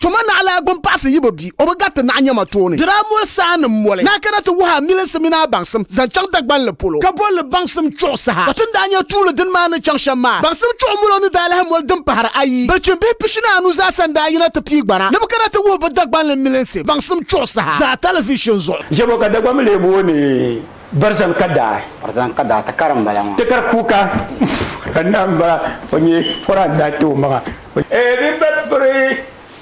Tuma naɣ la gbini paɣisi yi bi bi o bi gariti naɣ nyama tooni. Di daa moli saannim moli ni a kana ti wuhi a milinsi mini a baŋsim zaŋ chaŋ Dagbanli polo, ka bol li baŋsim chuɣu saha. Ka ti ni daa nya tuuli dini maa ni chaŋ shɛm maa, baŋsim chuɣu molo ni daa lahi moli din pahiri ayi. Bilichim bihi pishi ni anu zaasa n-daa yina ti pii gbana ni bɛ kana ti wuhi bɛ Dagbanli milinsi baŋsim chuɣu saha zaa talivishini zuɣu. Jɛbo ka Dagbamba lee booi ni Barzan Kadaa. Barzan Kadaa, Takara m-bala maa. Takara Kuka, Kuka Naa m-bala, o nyɛ Koran daa ti o maŋa. Ee din be piri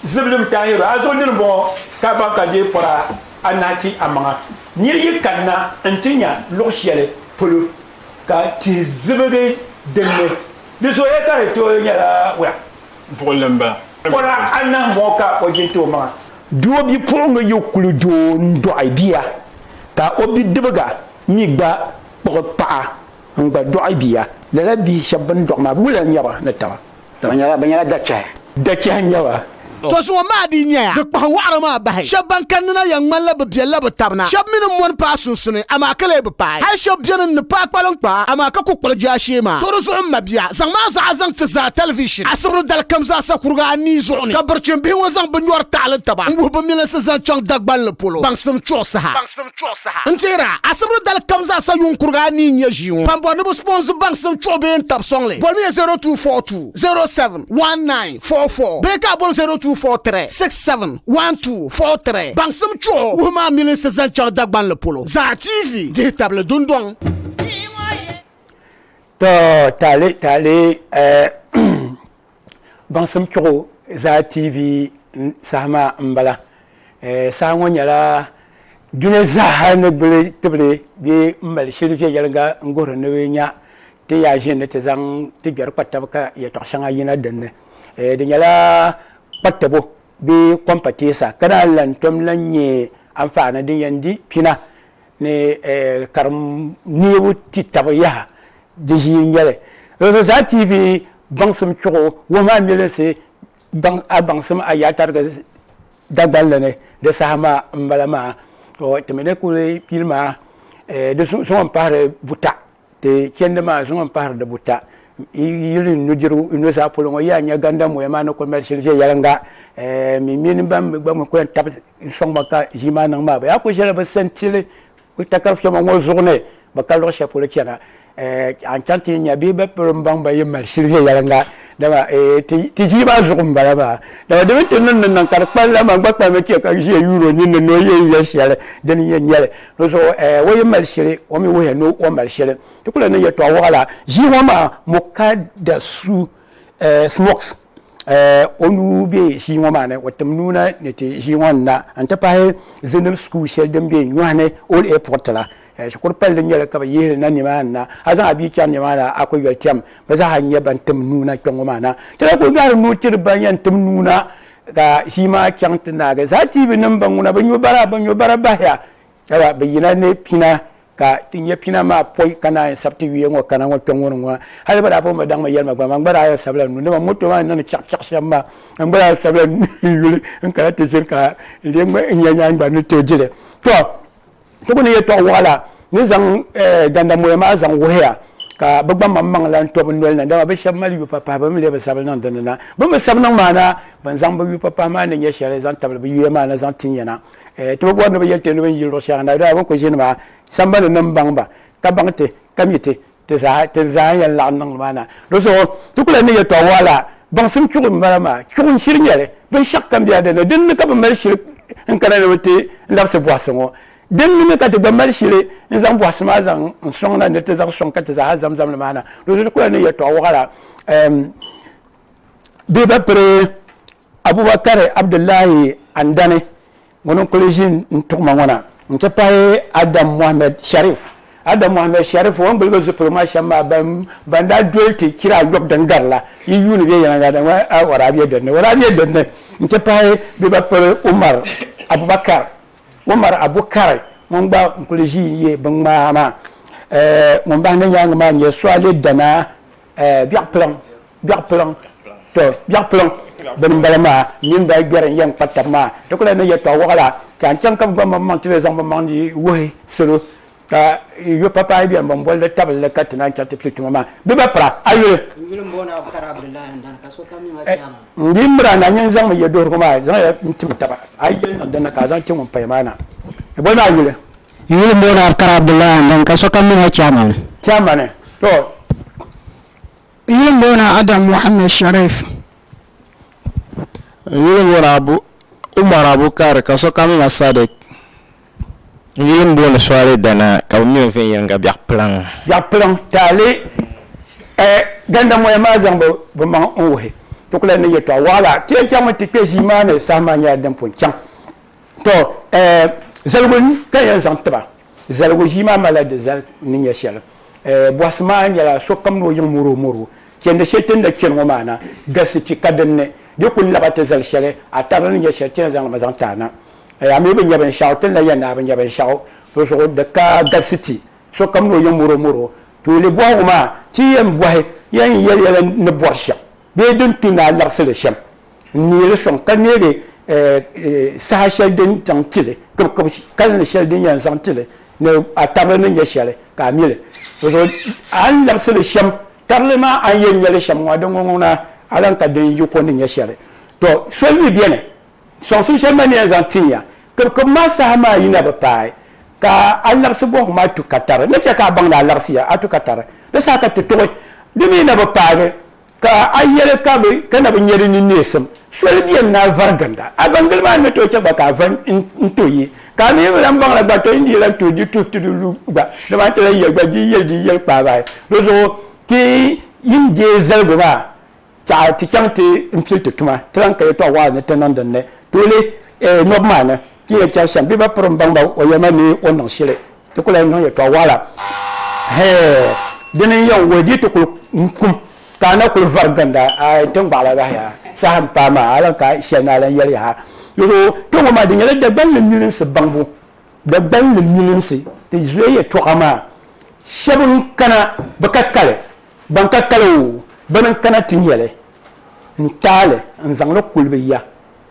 zibilim taayiro a zuɣu dini bɔŋɔ ka a baŋ ka deei pɔra anahi ti a maŋa? Nir yi kanna nti nya luɣ shɛli polo ka tihi zibigi din ni, di zooya ka di tooi nyɛla wula? Buɣili m-bala. Pɔra anahi m-bɔŋɔ ka o jin ti o maŋa. Di o bipuɣiŋga yi kuli do n-dɔɣi bia ka o bidibiga mi gba kpuɣi paɣa n-gba dɔɣi bia, lala bihi shɛb bɛn dɔɣi maa wula n-nyɛ ba ni taba? Bɛ nyɛla, bɛ nyɛla dachɛhi. Dachɛhi n-nyɛ ba. To zuŋɔ maa dii nyaya. Di kpahi wɔɣiri maa bahi. Shɛb ban kanni na yɛn ŋmanila bɛ biɛlila bɛ tab na. Shɛb mi ni mɔni paai sunsuni, amaa ka lee bi paai. Hal shɛb beni n-ni paai kpaliŋ kpaa, amaa ka ku kpuɣi jaashee maa. To di zuɣu m mabia, zaŋ maa zaɣa zaŋ ti zaa tɛlivishin asibiri dali kam zaasa kuriga anii zuɣu ni ka birichimbihi ŋɔ zaŋ bɛ nyɔri taɣili taba n-wuhi bɛ milinsi zaŋ chaŋ Dagbanli polo baŋsim chuɣu saha. chuɣu saha. N teer a, asibiri dali kam zaa sa yuun kurigi a ni yi nya ʒii ŋɔ. Kpambɔri ni bi sponsor baŋsim chuɣu bee n tab sɔŋli, bolimiya 0242071944 bee ka a bol 0243671243 baŋsim chuɣu wuhi maa milinsi zaŋ chaŋ Dagbanli polo zaa TV dihi tabili dundɔŋ. Tɔ, taali, taali, eh, Baŋsim kpiɣu zaa TV saha maa n bala. Saha ŋɔ nyɛla duni zaa ni gbuli tibili bɛ mali shili viɛnyɛliŋga n guhiri ni bɛ nya ti yaa ʒini ni ti zaŋ ti gbɛri kpa taba ka yɛltɔɣa shɛŋa yina dinni. Di nyɛla kpa tabo bee kɔmpateesa ka naan lan tom lan nyɛ anfaani din yɛn di kpina ni karim neebu ti tabi yaha di ʒii n-nyɛli zaa TV baŋsim chuɣu wuhi maa milinsi a baŋsim a yaatarigi Dagbanli ni di saha maa m-bala maa timi ni kuli pili maa di zuɣu n-pahiri buta Ti chɛndi maa zuŋu m-pahiri di buta. Yi yuli n nudirigu, n nuzaa polo ŋɔ, yiya nya gandammoya maa ni kul mali shili viɛnyɛliŋga. Ɛɛh! Min mini ban mi gba mi kul yɛn tabi n sɔŋ ma ka ʒii maa niŋ maa, bɛ yaa kul ʒila bɛ santili takar fɛma ŋɔ zuɣu ni bɛ ka luɣ shɛli polo chana. Ɛɛh! A ni chaŋ ti yi nya bee bɛ polo m-baŋ ba yi mali shili viɛnyɛliŋga. Dama ɛɛh! Ti ʒii maa zuɣu m-bala maa. Dama di mini ti ni ni niŋ ka di kpalim la, man gba kpalim n-chɛ ka ʒiya yuur o ninni ni o yɛn nya shɛli din yɛn nyɛli. Di zuɣu eh, o yi mali shili, o mi wuhiya ni o mali shili. Ti kuli niŋ yɛltɔɣa waɣila ʒii ŋɔ maa Mokadasu eh, Smokes eh, o nuu be ʒii ŋɔ maa ni, o tim nuu na ni ti ʒii ŋɔ ni na n-ti pahi Zenib School shɛli din be Nyɔhini Old Airport la. Eh, shikuru palli n-nyɛ li ka bɛ yihi li na nimaani na. A zaŋ a bia chani nimaani a kuli yoli tɛm, bɛ zaa ha n-nyɛ ban tim nuu na kpɛŋ ŋɔ maa na. Ti daa kuli gahiri nuu tiri ban yɛn tim nuu na Ka ʒii maa chaŋ ti naagi zaa tiibi nim ban ŋuna bi nyo bara bi nyo bara bahiya daba bi yina ni pina ka ti nya pina maa poi ka naan sabi ti yuya ŋɔ kana ŋɔ kpɛŋ ŋɔ ni ŋɔ hali bi daa pun bi daŋ mi yɛlima gba man gba daa yɛn sabila nu dama moto maa ni niŋdi chɛɣu chɛɣu shɛm maa man gba daa sabila n yuli n kana ti ʒiri ka n lee ŋmɛ n nya nyaani gba ni tooi dili to Ti ku ni yɛtɔɣ wɔɣila ni zaŋ eh, gandamɔya maa zaŋ wuhiya ka bɛ gba maŋmaŋ lan to bɛ noli na, dama bɛ shɛb mali yupapahi bɛ mi lee bi sabi niŋ di ni na. Bɛ ni bi sabi niŋ maa na, bɛn zaŋ bɛ yupapahi maa ni nyɛ shɛli zaŋ tabili bɛ yuya maa na zaŋ tin ya na. Eh, ti bi bɔri ni bɛ yɛli ti ni bɛ ni yi luɣ shɛŋa na, dama bɛ ni ku ʒini maa, sambani nim baŋ ba, ka baŋ ti, ka mi ti. ti zaa ti zaa yɛn laɣim niŋ ni maa na di zuɣu ti kula ni yɛtɔɣa wɔɣa la baŋsim chuɣu n bala maa chuɣu n shiri nyɛli binshɛɣu kam bɛla dinni dinni ka bi mali shili n kana ni bi ti labisi bɔhisi ŋɔ dinni mi ka ti gba mali shili n zaŋ bɔhisi maa zaŋ n sɔŋ na ni ti zaŋ sɔŋ ka ti zaa zam zam ni maa na di zuɣu ti kula ni yɛtɔɣa wɔɣa la bɛ ba piri Abubakari Abdullahi Andani ŋuni n kuli ʒin n tuɣima ŋɔ na n ti pahi Adam Mohammed Sharif. Adam Mohammed Sharif o ni gbiligi zupiligu maa shɛm maa ban daa doli ti chira ayɔbu din gari la yi yuuni bɛ yɛlli zaŋ ŋɔ a Waraabiya dini Waraabiya dini n ti pahi bɛ ba piri Umar Abubakari Umar Abukari ŋun gba n kuli ʒi n ye binŋmaa maa. Ŋun bahi na nyaangi maa n-nyɛ Suale Danaa Biɛɣupiliŋ. biɛɣu piliŋ to biɛɣu piliŋ bini m-bala maa nyin ba gbɛri n-yɛn kpa tab maa di kuli ni yɛtɔɣ wɔɣ la ka n chaŋ ka bɛ gba mmaŋ maŋ ti lee zaŋ bimmaŋ ni wuhi salo ka yɔ papaai beni bɛn boli li tabili li ka ti naan chɛ ti pili tuma maa bɛ ba pira a yuli n di miri a na nyin zaŋmi yɛduhirigu maa zaŋ ya n-tim taba a yi yɛli niŋ din na ka a zaŋ chɛ ŋun paya maa na bɛ boli ma a yuli n yuli m-booni Abukar Abdullahi Andani ka sokam mi ma Chairman Chairman to Yuli n booni Adam Mohammed Sharif. Yuli n booni Abu Umar Abu Kari ka sokam na Sadiq. Yuli n booni Swaleh Dana ka bɛ mi o viɛnyɛliŋga Biɛɣ'Piliŋ. Biɛɣ'Piliŋ taali eh Gandamoya maa zaŋ bi bi maŋ n wuhi ti kuli ni yɛltɔɣa waɣila ti yɛn chaŋ mi ti kpe ʒii maa ni saha maa nyɛla din pun chaŋ tɔ eh zaligu n ka yɛn zaŋ tiba. Zaligu ʒii maa malila di zali ni nyɛ shɛli. Bɔhisi maa nyɛla sokam ni o yiŋ moro moro. Chɛndi shɛli ti ni na chɛni ŋɔ maa na galisi ti ka din ni di kul laba ti zali shɛli a tarili ni nyɛ shɛli ti ni zaŋ li mi zaŋ ti a na. A mi bi nya binshɛɣu ti ni na yɛn ni a bi nya binshɛɣu di zuɣu di ka galisi ti sokam ni o yiŋ moro moro. Tooi li bɔhigu maa ti yɛn bɔhi yɛn yɛli yɛla ni bɔri shɛm. bee din tu ni a laɣisi li shɛm n-neei li sɔŋ ka neegi saha shɛli din zaŋ ti li kibikib kalinli shɛli din yɛn zaŋ ti li ni a tarili ni nya shɛli ka a mi li. Bɔzɔbo a ni laɣisi li shɛm tarili maa a ni yɛn nya li shɛm ŋɔ a di ŋɔŋɔŋ ni a lan ka din yi ko ni nya shɛli. Tɔ! Soli mi beni. Sɔŋsim shɛli maa ni yɛn zaŋ tin ya kibikib maa saha maa yi na bi paai, ka a labisi bɔhigu maa tu ka tari, ni chɛ ka a baŋ ni a labisiya, a tu ka tari, di saha ka ti tuɣi. Di mi yi na bi paagi, ka a yɛli ka bɛ ka na bi nya di ni neesim. Soli beni ni a vari ginda, a baŋ gili maa ni tooi chɛ gba ka a vari n-to yi, ka a mi yi bi lan baŋ la gba, tɔ yi ni yi lan tooi di tuhi ti di lu gba, dama n ti lan yɛli gba, di yi yɛli di yi yɛli kpaai bahi. Di zuɣu ti yi n-deei zaligu maa, Tɛha ti chaŋ ti n-pili ti tuma, ti lan ka yɛtɔɣ wɔɣila ni ti niŋ din ni tooi Nɔb maa ni ti ni yɛn chɛri shɛm. Bɛ ba piri m-baŋ ba o yɛlima ni o niŋ shili. Ti ku lan niŋ yɛtɔɣ wɔɣila. Hee! Dini n-yɛn wuhi di ti kul kum ka a na kul vari ginda ai tiŋgbɔɣila bahi ya saha m-paai maa, a lan ka shɛli ni a lan yɛli yaha. Yuri o, kpe ŋɔ maa di nyɛla Dagbani ni milinsi baŋbu. Dagbani ni milinsi ti zuya yɛtɔɣa maa shɛb n-kana bɛ ka kali. Ban ka kali o, bana n-kana ti nya li, n-taai li, n-zaŋ li kuli bɛ ya.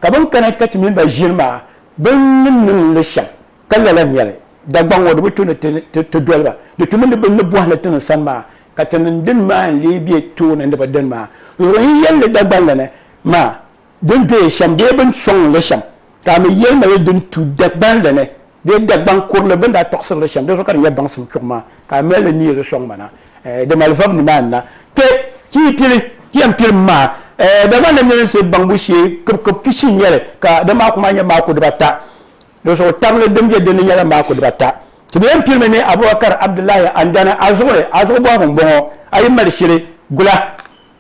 Ka bɛn kana ka ti mini ba ʒiri maa, bɛ ni niŋ li shɛm, ka lala n-nyɛ li. Dagbaŋ ŋɔ di bi tu ni ti doli ba, di tumi ni bɛ ni bɔhi li ti ni sani maa, ka ti niŋ din maa n-lee be tooni ni bɛ dini maa. Luɣiyin yɛlli Dagbanli ni maa Din doya shɛm bee bɛ ni sɔŋ li shɛm, ka a mi yɛlima ya din tu Dagbaŋ la ni bee Dagbaŋ kurili bɛ ni daa tɔɣisiri li shɛm, di zuɣu ka di nyɛ baŋsim chuɣu maa, ka a mali li neei li sɔŋ ma na, ɛɛ, di malivab ni maa n-na. Kpe! Ti yi pili, ti yɛn piri m maa, ɛɛ, Dagbaŋ namilinsi baŋbu shee kibikib pishi n-nyɛ li, ka di maaku maa nyɛ maaku dibata, di zuɣu tabili din be din ni nyɛla maaku dibata. Ti bi yɛn piri mi ni Abubakar Abdullahi Andana, a zuɣuri, a zuɣu bɔhigu m-bɔŋɔ, a yi mali shili, gula.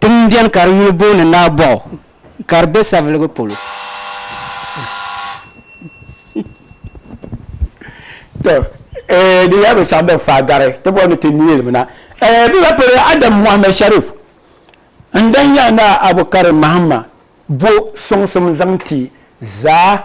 Tiŋ m-beni ka di yuli booni Naabɔɣu ka di be Saviligu polo. To eeh di yɛlibu saɣim din faai gari ti bɔri ni ti neelimina. Eeh bɛ ba polo Adam Mohammed Sharif n-dan ya Naa Abu Karim Mahama bo suŋsim zaŋ ti zaa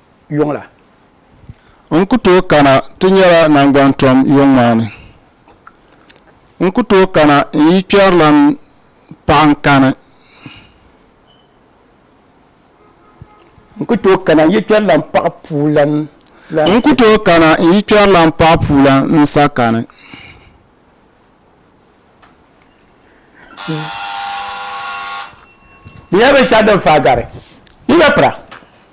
yuŋ la. N ku tooi kana ti nyɛla naŋgbantom yuŋ maa ni. N ku tooi kana n yi kpɛrilan paɣa n kani. N ku tooi kana n yi kpɛrilan paɣa puulan la. N ku tooi kana n yi kpɛrilan paɣa puulan n sa kani. Di nyɛla binshɛɣu din faai gari. Yi na pira.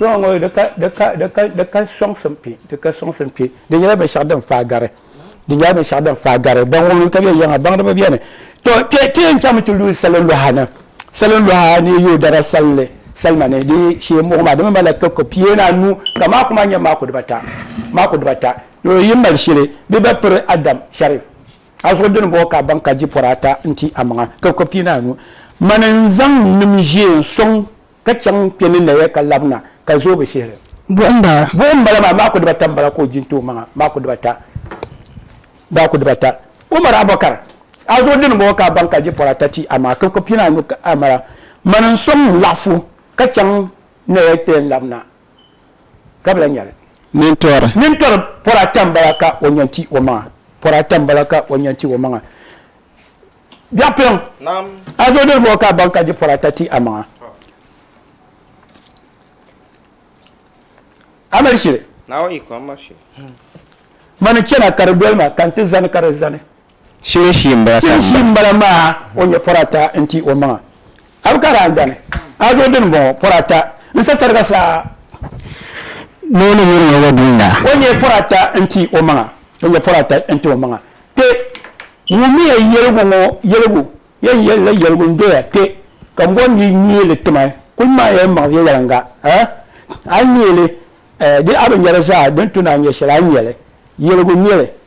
kpɛŋɔ ŋɔ di ka sɔŋsim kpɛ di ka sɔŋsim kpɛ di nyɛla binshɛɣu din faa gari di nyɛla binshɛɣu din faa gari ban ŋɔ ka bɛ yiɛŋa baŋdiba bɛni to ti yɛn chaŋmi ti lu salo luɣa ni salo luɣa ni yi dara salli salima ni di shee muɣi maa di mi malila koko pia ni anu ka maaku maa nyɛ maaku dibata maaku dibata Yoo yi mali shili bɛ ba piri Adam Sharif a zuɣu dini bɔɔ ka a baŋ ka di pɔri ata n ti a maŋa ka ko pii ni anu mani n zaŋ n nim ʒee n sɔŋ ka chaŋ kpe ni naya ka labina ka zoogi shihili buɣim bala buɣim bala maa maaku dibata m bala ka o di n ti o maŋa maaku dibata maaku dibata Umar Abubakar a zuɣu dini bɔɔ ka a baŋ ka di pɔri ata ti a maŋa ka ko pii ni anu ka a mala mani n sɔŋ n laɣifu ka chaŋ naya kpe n labina ka bɛ la nyɛli nintɔri nintɔri pɔri ata m-bala ka o nya nti o maŋa pɔri ata m-bala ka o nya nti o maŋa Biɛɣupiliŋ a zo doli bɔ ka a baŋ ka di pɔri ata ti a maŋa a mali shili mani n-chana ka di doli ma ka nti zani ka di zani Shiri shii m-bala ka Shiri shii m-bala maa o nyɛ pɔri ata n-ti o maŋa. A bi ka daa dani, a zo dini m-bɔŋɔ, pɔri ata n-sa sariga saa. Ni o ni nyuri ŋɔ wa dun la. O nyɛ pɔri ata n-ti o maŋa, o nyɛ pɔri ata n-ti o maŋa. Kpe! Wummiya yɛligu ŋɔ yɛligu, yɛn yɛli la yɛligu n-doya kpe, ka m bɔri ni yi nyee li ti ma, kul maŋ ya m-maŋ viɛnyɛliŋga, ah! A nyee li, eh, di a bi nya li zaa, di ni tu ni a nya shɛli, a nya li. Yɛligu n-nyɛ li,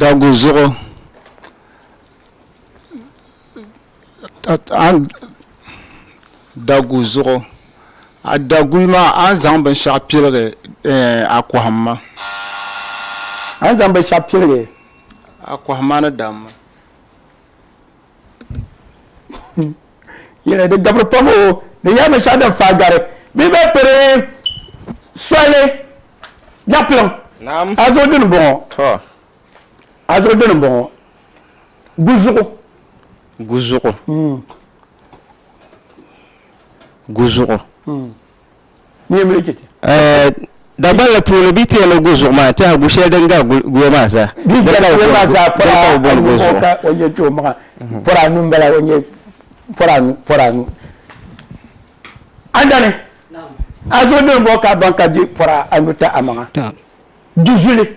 Dagu zuɣu dagu zuɣu a daguli maa a ni zaŋ binshaɣu piligi a kɔhimma a ni zaŋ binshaɣu piligi a kɔhimma ni damma yɛli di gabiri pam o di yɛli binshɛɣu din faa gari bɛ bɛ piri soli dapilim a zuɣu dini bɔŋɔ a zuɣu dini bɔŋɔ guzuɣu guzuɣu hmm. guzuɣu hmm. Dagbanli puuni bɛ tiɛhi ni gu zuɣu maa tiɛha gu shɛli din gari guya maa zaa. Di gari guya maa zaa pɔra anu ka o nyɛ kpɛ o maŋa pɔra anu n bala o nyɛ pɔra anu pɔra anu. Andani a zo dini bɔ ka ban ka di pɔra anu ta a maŋa du zuli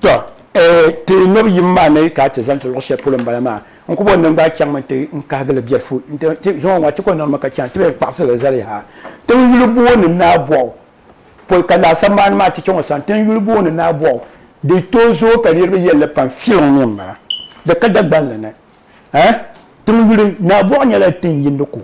To, eh, ti nob yim maa ni ka a ti zani ti luɣ shɛli polo m-bala maa. N kubɔni din gbaai chaŋmi nti n kahigi li biɛlifu nti zuŋɔ ŋɔ a ti kɔŋ niŋdimi ka chana ti bee n kpaɣisiri li zali yaha ti ni yuli booi ni Naabɔɣu pol ka laasabu maa ni maa ti chaŋ o sani ti ni yuli booi ni Naabɔɣu. Di tooi zooi ka niriba yɛli li pam filiŋ ni m-bala di ka Dagbanli ni, eh, tiŋ yuli. Naabɔɣu nyɛla tiŋ yindi ku.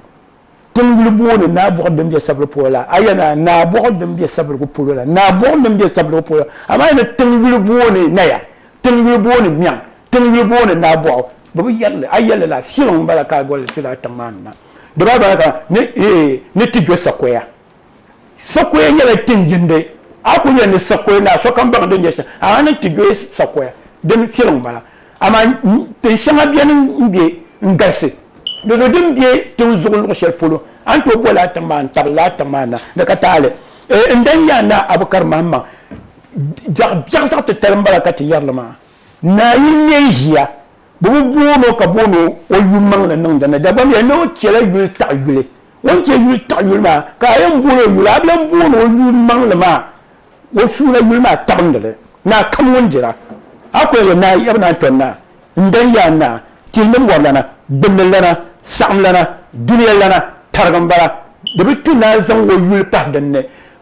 Tiŋgbuli booni Naa Buɣu din be Sabiri polo la, a yɛn a Naa Buɣu din be Sabirigu polo la, Naa Buɣu din be Sabirigu polo la, amaa a ni Tiŋgbuli booni Naya, Tiŋgbuli booni Miɛŋ, Tiŋgbuli booni Naa Buɣu, bɛ bi yɛri li, a yɛli la, Filoŋ m-bala ka a goli li ti daa tiŋ maa ni na. Di baa bala ka ni ti gbe sakoya. Sakoya nyɛla tin yindi. A kul yɛli ni sakoya naa sokam baŋ din nyɛ shɛm, ahaa ni nti doya sakoya, dini fiɛlim m-bala. Amaa tin shɛŋa beni m-be n-galisi. Dizuɣu din be tiŋ zuɣu luɣ shɛli polo, a ni tooi boli a tiŋ maa n-tabili a tiŋ maa na ni ka taali. N dan yi a naa Abukar Mahammaŋ, biɛɣ biɛɣ zaɣ titali m-bala ka ti yɛri li maa. Naa yi nya n ʒiya, bɛ bi booni o ka booni o yummaŋli niŋdi ni. Dagbamia ni o chɛla yuli taɣi yuli. O ni chɛ yuli tiɣi yuli maa, ka a yɛn boon o yuli, a bi lan boon o yuli maŋli maa, o suuna yuli maa tabindi li, Naa kam ŋun dira, a kɔya yɛn naa, yaba naa n-tɔri naa, n-dan ya a naa, tihi ni mɔrilana, gbinninlana, saɣimlana, dunia lana, tarigi m-bala, di bi tu naa zaŋ o yuli pahi din ni,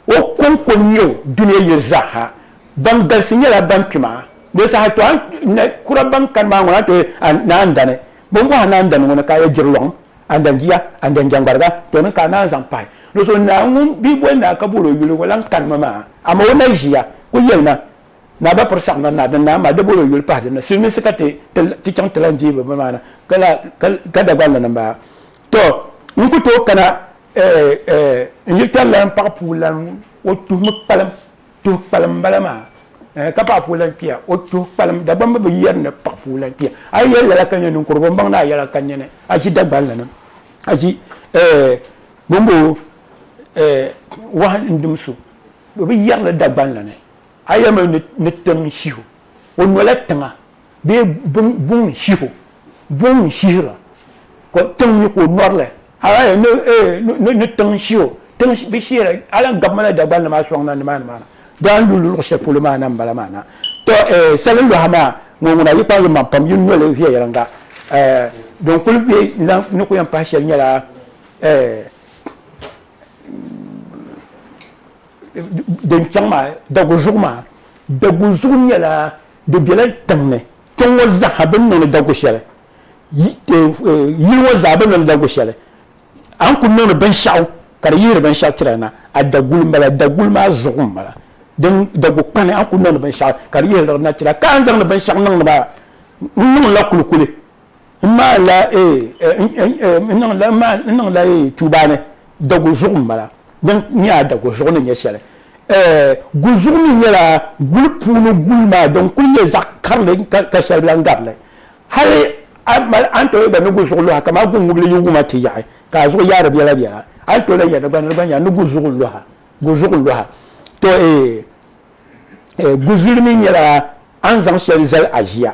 o kɔŋko n-nyɛ o, dunia yili zaaha, ban galisi nyɛla ban kpi ma, di saha tɔ a ni kura ban kani maa ŋuna n-tɔri a naa n-dani, bɛ ni bɔh a naa n-dani ŋuna ka a yɛn jiri lɔɣim. Andanjia, Andanjangbarga, tɔ ni ka a naan zaŋ pahi ni so naa ŋun bi boli naa ka boli o yuli ŋɔ lan kani ma maa. Amaa o naa ʒiya kul yɛli ma, Naa ba piri saɣim na naa din naan ma di boli o yuli pahi din na. Silimiinsi ka ti ti chaŋ ti lan deei bɛ ma na ka la ka Dagban lana m-bala. Tɔ! N ku tooi kana n-yiri tari lan paɣ puu lan ŋɔ, o tuhimi kpalim. tuhi kpalim bala maa eh, ka paɣa puu lan kpiya o tuhi kpalim Dagbamba bi yɛri ni paɣa puu lan kpiya a yi yɛli lala ka nyɛ ninkurigu n baŋ ni a yɛla ka nyɛ ni a ʒi Dagbanli ni a ʒi eh, gbambo eh, wahi n dim so bi yɛrili Dagbanli ni a yɛlimi ni tim shihu o nola tiŋa bee buŋ ni shiho buŋ ni shihira ka tiŋ mi ka o lɔrili hali ni tiŋ shiho tiŋ bi shihira hali n gabimila Dagbani maa sɔŋ na nimaani maa na daan lu luɣu shɛli polo maa na n bala maa na to sali lɔha maa ŋɔ ŋuna yi kpaŋ yi maŋ pam yi noli viɛyɛliŋga din kuli bɛ ni ku yɛn pahi shɛli nyɛla din chaŋ maa daguzuɣu maa daguzuɣu nyɛla Di bela tiŋ ni, tiŋ ŋɔ zaɣa bini niŋdi dagu sheli, yili ŋɔ zaɣa bini niŋdi dagu sheli, a ni kuli niŋdi binshaɣu ka di yihiri binshaɣu tira na, a daguli m bala, daguli maa zuɣu m bala, din dagu kpani a ni kuli niŋdi binshaɣu ka di yihiri di na tira. Ka a ni zaŋdi binshaɣu niŋdi maa, n niŋla kulikuli. N maan la ee, n niŋ la ee tuuba ni daguzuɣu m-bala, din nyɛ a daguzuɣu ni nyɛ shɛli. Ee, guzuɣu mi nyɛla guli puuni guli maa din kul nyɛ zaɣ karili ka shɛli bi lan gari li. Hali a ni mali a ni tooi yɛn ni guzuɣu luha kaman guŋubili yi wum a ti yaɣi ka a zuɣu yaari biɛlabiɛla, a ni tooi lan yɛn ni gba ni di gba nya ni guzuɣu luha, guzuɣu luha. Tɔ ee, guzuli mi nyɛla a ni zaŋ shɛli zali aʒia.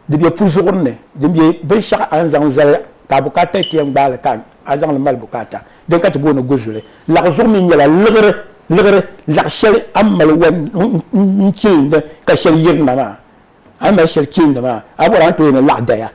Di be puzuɣuri ni, din be binshɛɣu a ni zaŋ zali ka a bukaata ti yɛn gbaai li ka a zaŋ li mali bukaata. Din ka ti booni guzuli. Laɣizuɣu mi nyɛla liɣiri, liɣiri, laɣ shɛli a ni mali wan n-chilindi ka shɛli yirina maa. A ni mali shɛli chilindi maa, a bɔri a ni tooi ni laɣ daya.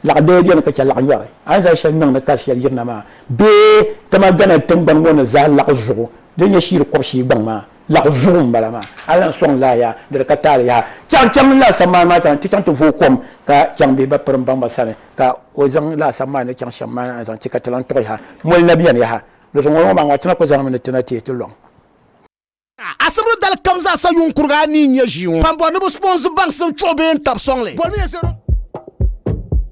Laɣ daya beni ka chɛ laɣ nyɔri a ni zali shɛli niŋdi ka shɛli yirina maa bee Tama Ghana tiŋgbani ŋɔ ni zaa laɣizuɣu din nyɛ Shiiri kɔb'shii gbaŋ maa. Laɣu zuɣu n bala maa. A lan sɔŋ laa yaha di di ka taali yaha chaŋ chaŋ n laa sammaani maa sani ti chaŋ ti vooi kom ka chaŋ bee ba piri n baŋ ba sani ka o zaŋ laa sammaani ni chaŋ shɛm maa zaŋ ti ka ti lan tuɣi yaha moli na beni yaha luɣushɛli ŋɔ ŋɔ maa ŋɔ ti na ku zaŋ mi ni ti na teei ti lɔŋ Asibiri dali kam zaa sa yuŋ kuriga anii n-nyɛ ʒii ŋɔ. Kpambɔri ni bɛ sponsi baŋsim chuɣu bee n-tab sɔŋ li.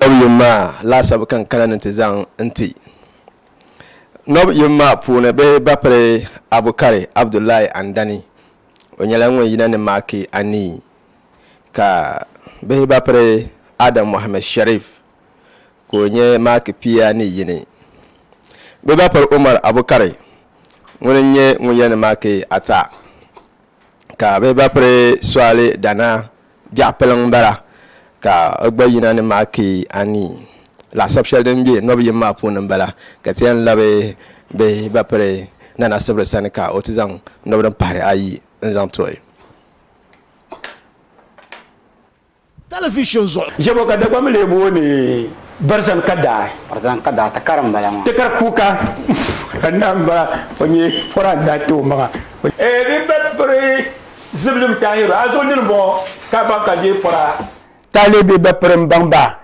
Nɔb yom maa laasabu ka n kana ni ti zaŋ n ti Nɔb yom maa puuni bɛ bapiri Abukari Abdullahi Andani. O nyɛla ŋun yina ni maaki anii ka bihi bapiri Adam Mohammed Sharif ka o nyɛ maaki pia ni yini. Bɛ bapiri Umar Abukari ŋuni n nyɛ ŋun yina ni maaki ata ka bihi bapiri Suali Dana Biɛɣu piliŋ m-bala ka o gba yina ni maaki anii. Laɣisab shɛli din be nɔb yim maa puuni m-bala ka ti yɛn labi bɛ ba piri Nana Sibiri sani ka o ti zaŋ nɔb din pahiri ayi n-zaŋ ti o. Talivizin zuɣu. Jɛbo ka Dagbaŋ mi lee booni Barzan Kadaa. Barzan Kadaa takara m-bala maa. Takar kuuka n-daa m-bala. O nyɛ pɔra n-daa ti o maŋa. Ee bɛ ba piri. Zibilim Tahiru, a zuɣu nini m-bɔŋɔ ka baŋ ka deei pɔra. Taalibi bi piri m-baŋ ba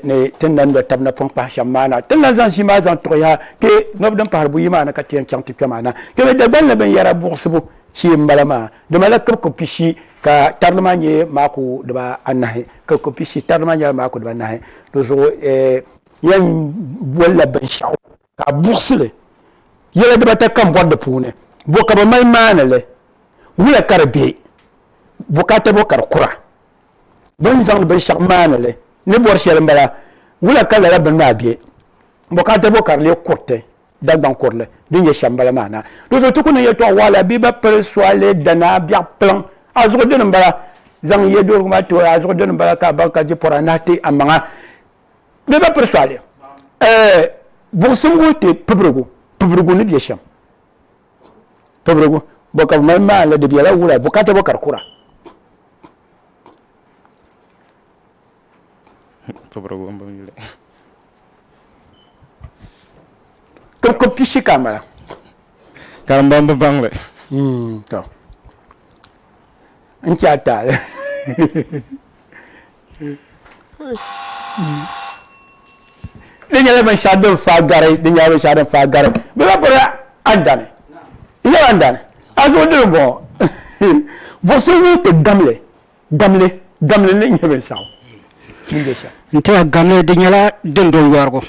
ni ti ni lan lo tab napɔŋ pahi shɛm maa na. Ti ni lan zaŋ ʒii maa zaŋ tuɣiya kpe nɔb din pahiri buyi maa ni ka ti yɛn chaŋ ti kpe maa na. Kpɛmi Dagban ni binyɛra buɣisibu shee m-bala maa. Di malila kibiko pishi ka tarili maa nyɛ maaku dibaa anahi. Kibiko pishi tarili maa nyɛla maaku dibaa anahi. Di zuɣu n yɛn bolila binshɛɣu ka a buɣisili yɛla dibata kam bɔri di puuni, bɔ ka bɛ mali maani li, wula ka di be, bukaata bɔ ka di kura, bɛ ni zaŋdi binshɛɣu maani li ni bɔri shɛli m-bala, wula ka lala bini maa be, bukaata bɔ ka di lee kuriti, Dagbaŋ kurili din nyɛ shɛm m-bala maa na. Di zuɣu ti ku niŋ yɛtɔɣ waɣila bee ba piri soli dana biɛɣ piliŋ a zuɣu dini m-bala, zaŋ yɛduhirigu maa ti a zuɣu dini m-bala ka a baŋ ka jipɔra nahi ti a maŋa. bɛ ba piri sɔɣili eh, buɣusim ŋɔ ti pibirigu pibirigu ni bɛ shɛm pibirigu bɔ ka bi mali maa la di bɛla wula bukata bɔ ka di kura pibirigu n bin yuli ka ko pishi ka mala ka n ban bi baŋli hmm, to n chɛ a taali di nyɛla binshɛɣu din faa gari di nyɛla binshɛɣu din faa gari bi ba piri andani nyɛla andani a zuɣu dili n bɔŋɔ buɣusi ŋun ti gamli gamli gamli ni nyɛ binshɛɣu din bɛ shɛm n tiɛha gamli di nyɛla din do yɔrigu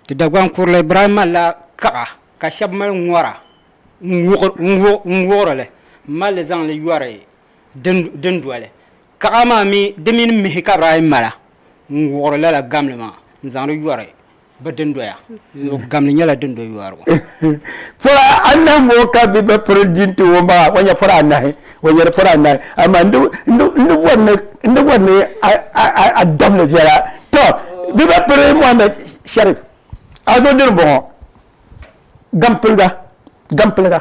ti dagban kurili ibrahim malila kaɣa ka shɛba mali ŋɔra n wuɣiri li malli zaŋli yɔri dundoli kaɣa maa mi di mini mihi ka bɛ daa yi mala n-wuɣiri lala gamli maa n-zaŋdi yɔri bɛ dundoya. Gamli nyɛla dundo yɔrigu. Pɔra anahi ŋɔ ka bɛ ba piri di n-ti o maa, o nya pɔra anahi, o nyari pɔra anahi. Amaa n di bɔri ni n di bɔri ni a dabili viɛla. Tɔ! Bɛ ba piri Mohammed Sharif. A zo dini m-bɔŋɔ, gampiliga, gampiliga.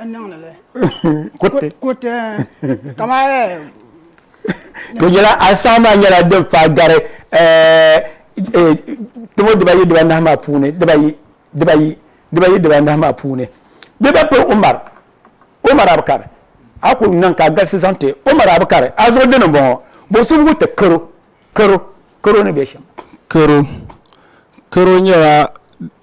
n niŋdi li kuriti kamani di nyɛla asaha maa nyɛla din fa gari timo dibayi dibanahi maa puuni dibayi dibayi dibayi dibanahi maa puuni bɛ ba piri umar umar abukar a ku niŋ ka galisi zaŋ ti umar abukar a zuɣu dini n bɔŋɔ bosubigu ti karo karo karo ni bɛ shɛm karo karo nyɛla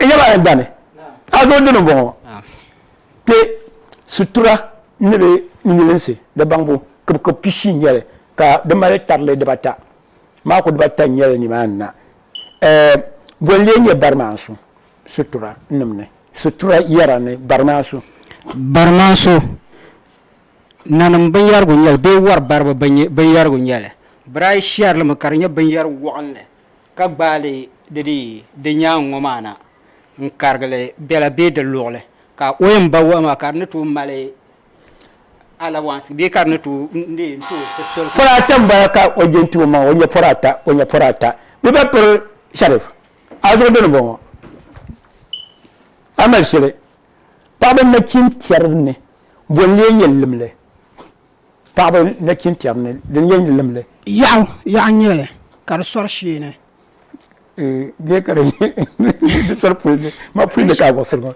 n yɛba yɛn dani a zo dini bɔŋɔ kpe sutura ni bɛ nyilinsi di baŋbu kibikib pishi n nyɛli ka di mali tarili dibata maaku dibata n nyɛli nimaani na boli lee nyɛ bari maa su sutura nim ni sutura yɛra ni bari maa su bari maa su nanim binyɛrigu nyɛli bee wari baribu binyɛrigu nyɛli birayi shɛrili mi ka di nyɛ binyɛri wɔɣinli ka gbaai li di ni yi di nyaaŋ ŋɔ maa na n-karigi li bela bee di luɣili, ka o yɛn ba wahu maa ka di ni tooi mali alawansi bee ka di ni tooi neei n-tooi siri soli. Pɔri ata m-bala ka o je n-ti o maŋa, o nya pɔri ata, o nya pɔri ata. Bɛ ba piri Sharif, a zuɣu dini m-bɔŋɔ. A mali shili paɣiba nachintɛri ni, bɔ n-lee nyɛ limli? Paɣaba nachin tiɛri ni di ni yɛn lim li. Yaɣu yaɣu n-nyɛ li, ka di sɔri shee ni. Bee ka di di sɔri puli ni, ma puli ni ka a buɣisiri ŋɔ.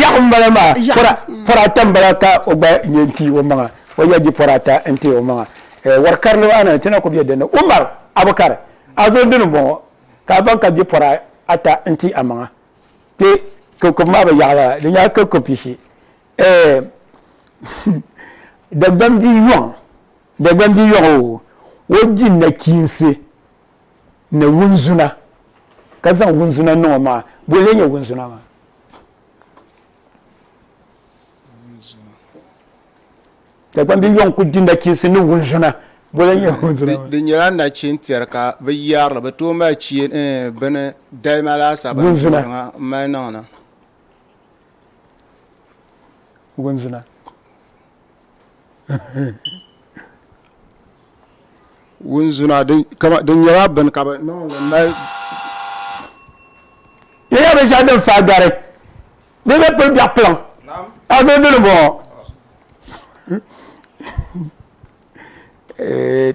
Yaɣu m-bala maa, pɔra pɔra ata m-bala ka o gba nyɛ n-ti o maŋa, o yɛn di pɔra ata n-ti o maŋa. Wari karili maa ni ti na ku be din ni. Umar Abukar, a zo dini m-bɔŋɔ, ka a baŋ ka di pɔra ata n-ti a maŋa. Kpe kikubu maa bi yaɣi lala, di nyɛla kikubu pishi. Eh, hmm, Dagbani di yɔŋ, Dagbani di yɔŋ o, o di nachiinsi ni wunzuna, ka zaŋ wunzuna niŋ o maŋa. Bɔ n-lee nyɛ wunzuna maa? Dagbani di yɔŋ kul di nachiinsi ni wunzuna. Bɔ n-lee nyɛ wunzuna maa? Di nyɛla nachin tɛri ka bi yɛri li, bi tooi mali eh, bini, dalima laasabu n-toori ŋa m-mali niŋ na. wunzuna wunzuna din nyɛla bini ka bi niŋli mali di nyɛla binshɛɣu din faa gari di ni pili biɛɣu kpiliŋ a zo dini bɔŋɔ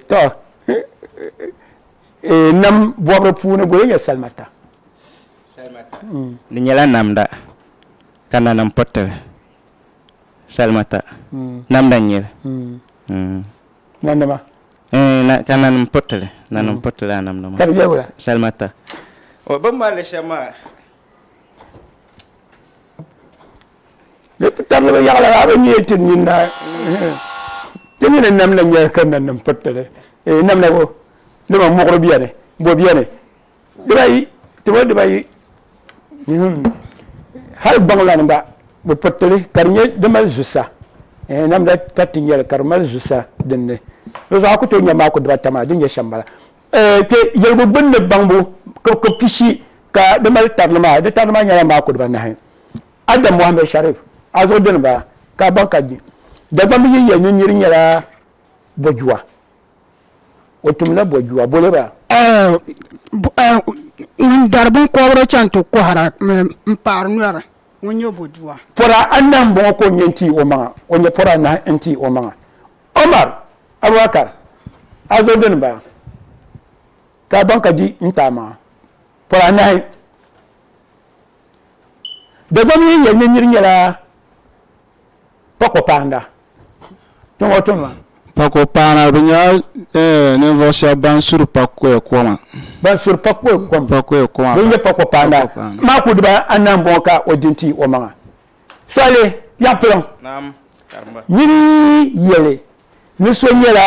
to nam bɔbiri puuni goli nyɛ salima ta salimata. Di nyɛla namda ka nanim piritili salimata. Namda n-nyɛ li. Nanima? Eeh, ka nanim piritili. Nanim piritili lala namda maa. Ka di nyɛla wula? Salimata. O, bɛ ni mali li shɛm maa. Di bi tabili bi yaɣili a bi ni yɛn ti nyin na. Ti mi ni namda n-nyɛ ka nanim piritili. Eeh, namda bo? Dama muɣiri beni, bo beni, dibayi tiboli dibayi hali gbaŋlani gba bi piritili ka di nyɛ di mali zusa eh, namda ka ti nyɛli ka di mali zusa dinni di zuɣu a ku tooi nyɛ maa ku dibata maa din nyɛ shɛm bala eh, kpe yɛligu gbunni baŋbu ka pishi ka di mali tarili maa di tarili maa nyɛla maa ku dibanahi adam mohammed sharif a zuɣu dini bala ka baŋ ka dagbambi yiya ni niri nyɛla bojuwa o tumla bɔjua boli ba. Ŋun dari binkɔbiri chaŋ ti kɔhira m-paɣiri nyɔri, ŋun nyɛ bɔjua. Pɔra anahi m-bɔŋɔ ka o nyɛ n-ti o maŋa, o nyɛ pɔra anahi n-ti o maŋa. Omar, Abubakar, a zo dini m-bala, ka a baŋ ka di n-ti a maŋa. Pɔra anahi. Dagbamba yi yɛli ni nir nyɛla Pako paana tiŋɔ tuni maa. Pako paana bi nyɛla eh, ninvuɣu shɛba ban suri pakoya koma. Ban suri pakoya koma. Pakoya koma. Bin nyɛ pako paana maa ku diba anahi n bɔŋɔ ka o di n ti o maŋa. Sɔhili yaŋ piliŋ. Naam karimba. Nyini yɛli ni so nyɛla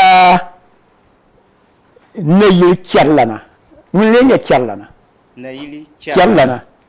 nayili chɛrilana ŋuni lee nyɛ chɛrilana? Nayili chɛrilana.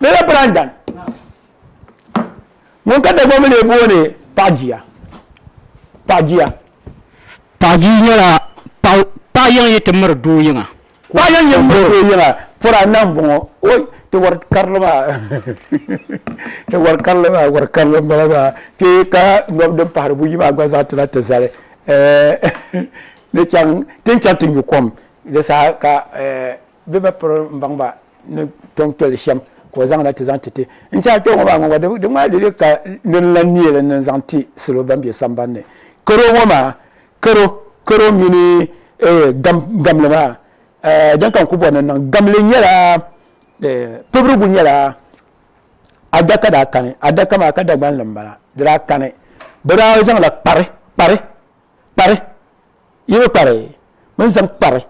Lala Brandon ŋun ka Dagbaŋ mi lee booni Paɣa Jia. Paɣa Jia. Paɣa Jia nyɛla paɣ, paɣ yiŋ yi ti miri doo yiŋa. Paɣ yiŋ yi miri doo yiŋa, pɔra n-na m-bɔŋɔ. Oi, ti war karili maa. Ti war karili maa, war karili m-bala maa. Ti ka nɔb din pahiri buyi maa gba zaa ti na ti zali. Ɛɛh, ni chaŋ, ti ni chaŋ ti nyu kom, di saha ka ɛɛh. bɛ ba piri n baŋ ba ni tɔŋ toli shɛm ka o zaŋda ti zaŋ ti ti n ti a kpɛŋɔ maa ŋɔ gba di ŋmaa lili ka din lan neeli ni n zaŋ ti salo ban be samban ni karo ŋɔ maa karo karo mini eh, gam gamli maa eh, din ka n ku bɔri ni n niŋ gamli nyɛla eh, pibirigu nyɛla adaka daa kani adaka maa ka dagbanli n bala di daa kani bɛ daa zaŋla kpari kpari kpari Yi bi kpari bini zaŋ kpari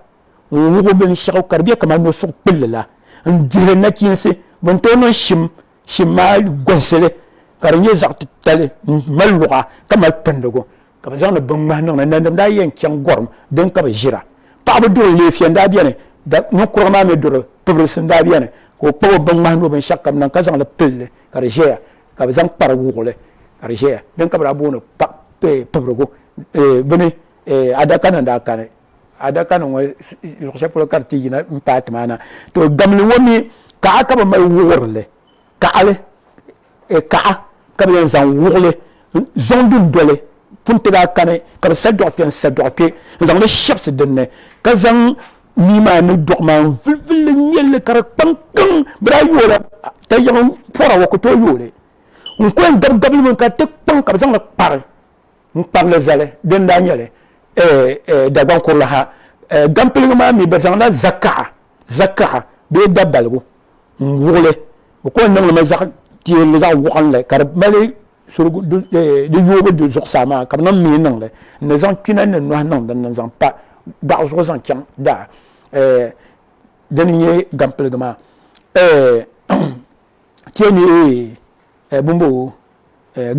ŋun wuɣi binshɛɣu ka di bɛ kamani nɔsuɣu kpulli la n-dihi li nachiinsi bini tooi niŋ shim shim maa gɔhisi li ka di nyɛ zaɣ titali m-mali luɣa ka mali pindigu ka bɛ zaŋdi binŋmahi niŋ li nanima daa yɛn chaŋ gɔrim dini ka bɛ ʒira paɣaba duri leefiya n-daa beni ninkurugu maa mi duri pibirisi n-daa beni ka o kpabi o binŋmahi ni o binshɛɣu kam niŋ ka zaŋ li pili li ka di ʒɛya ka bɛ zaŋ kpari wuɣili ka di ʒeya din ka bɛ daa booni pibirigu bini adakanim daa kani adakanim ŋɔ luɣ shɛli polo ka di ti yina m-paai ti maa na to gamli ŋɔ mi kaɣa ka bɛ mali wuɣiri li kaɣili kaɣa ka bɛ yɛn zaŋ wuɣili zaŋ dundoli pun ti daa kani ka bɛ sa dɔɣu kpe n-sa dɔɣu kpe n-zaŋ li shɛbisi din ni ka zaŋ Mii maa ni duɣi maa n vilivili n nyɛlli ka di kpaŋ kiŋ bi daa yooi la ta yiɣi n pɔra wa ku tooi yooli n ku yɛn gabi gabili mi ka di ti kpaŋ ka bi zaŋli kpari n kparili zali din daa nyɛli Dagbaŋ kurili ha gampiligu maa mi bi zaŋla zakaɣa zakaɣa bee dabaligu n wuɣili bi ku yɛn niŋli mi zaɣ piɛlli zaɣ waɣinli ka di mali surigu di yoobu du zuɣusaa maa ka bi niŋ mihi niŋli n ni zaŋ kpina ni nohi niŋ dinni n zaŋ pa daɣu zuɣu zaŋ chaŋ daa dini nyɛ gampiligi maa ti yɛn ni bumbo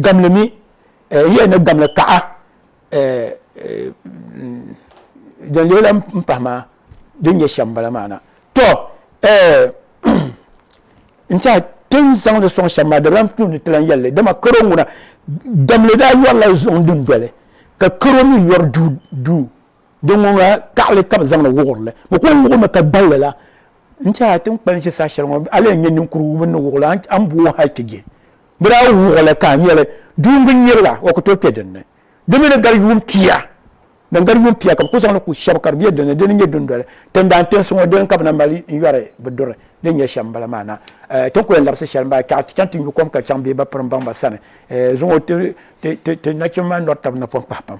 gamli mi n yɛn ni gamli kaɣa din leei la n pahi maa din nyɛ shɛm bala maa na to n tiɛha tin zaŋ di sɔŋ shɛm maa dabilam tu ni tilan yɛlli dama karo ŋuna damli daa yɔrila zuɣu dundoli ka karo mi yɔri duu din ŋɔ ŋuna kaɣali ka bi zaŋdi wuɣurili bi ku wuɣumi ka gballi la n tiɛha ti ni kpalinsi saha shɛli ŋɔ a lee nyɛ ninkurigu bi ni wuɣuli a ni booi hali ti je Bɛ daa wuɣi li ka a nya li duungi n-nyirila, o ku tooi kpe din ni. Di mi ni gari yuun pia. Din gari yuun pia ka bɛ ku zaŋ li ku shɛba ka di be din ni. Di ni nyɛ dundoli tindaan tinsi ŋɔ dini ka bɛ na mali n-yɔri bɛ duri din nyɛ shɛm m-bala maa na. Ti ni ku yɛn labisi shɛli m-bala, ka ti chaŋ ti nyu kom ka chaŋ bee ba piri m-baŋ ba sani zuŋɔ ti nachimba maa nɔri tab napɔŋ pahi pam.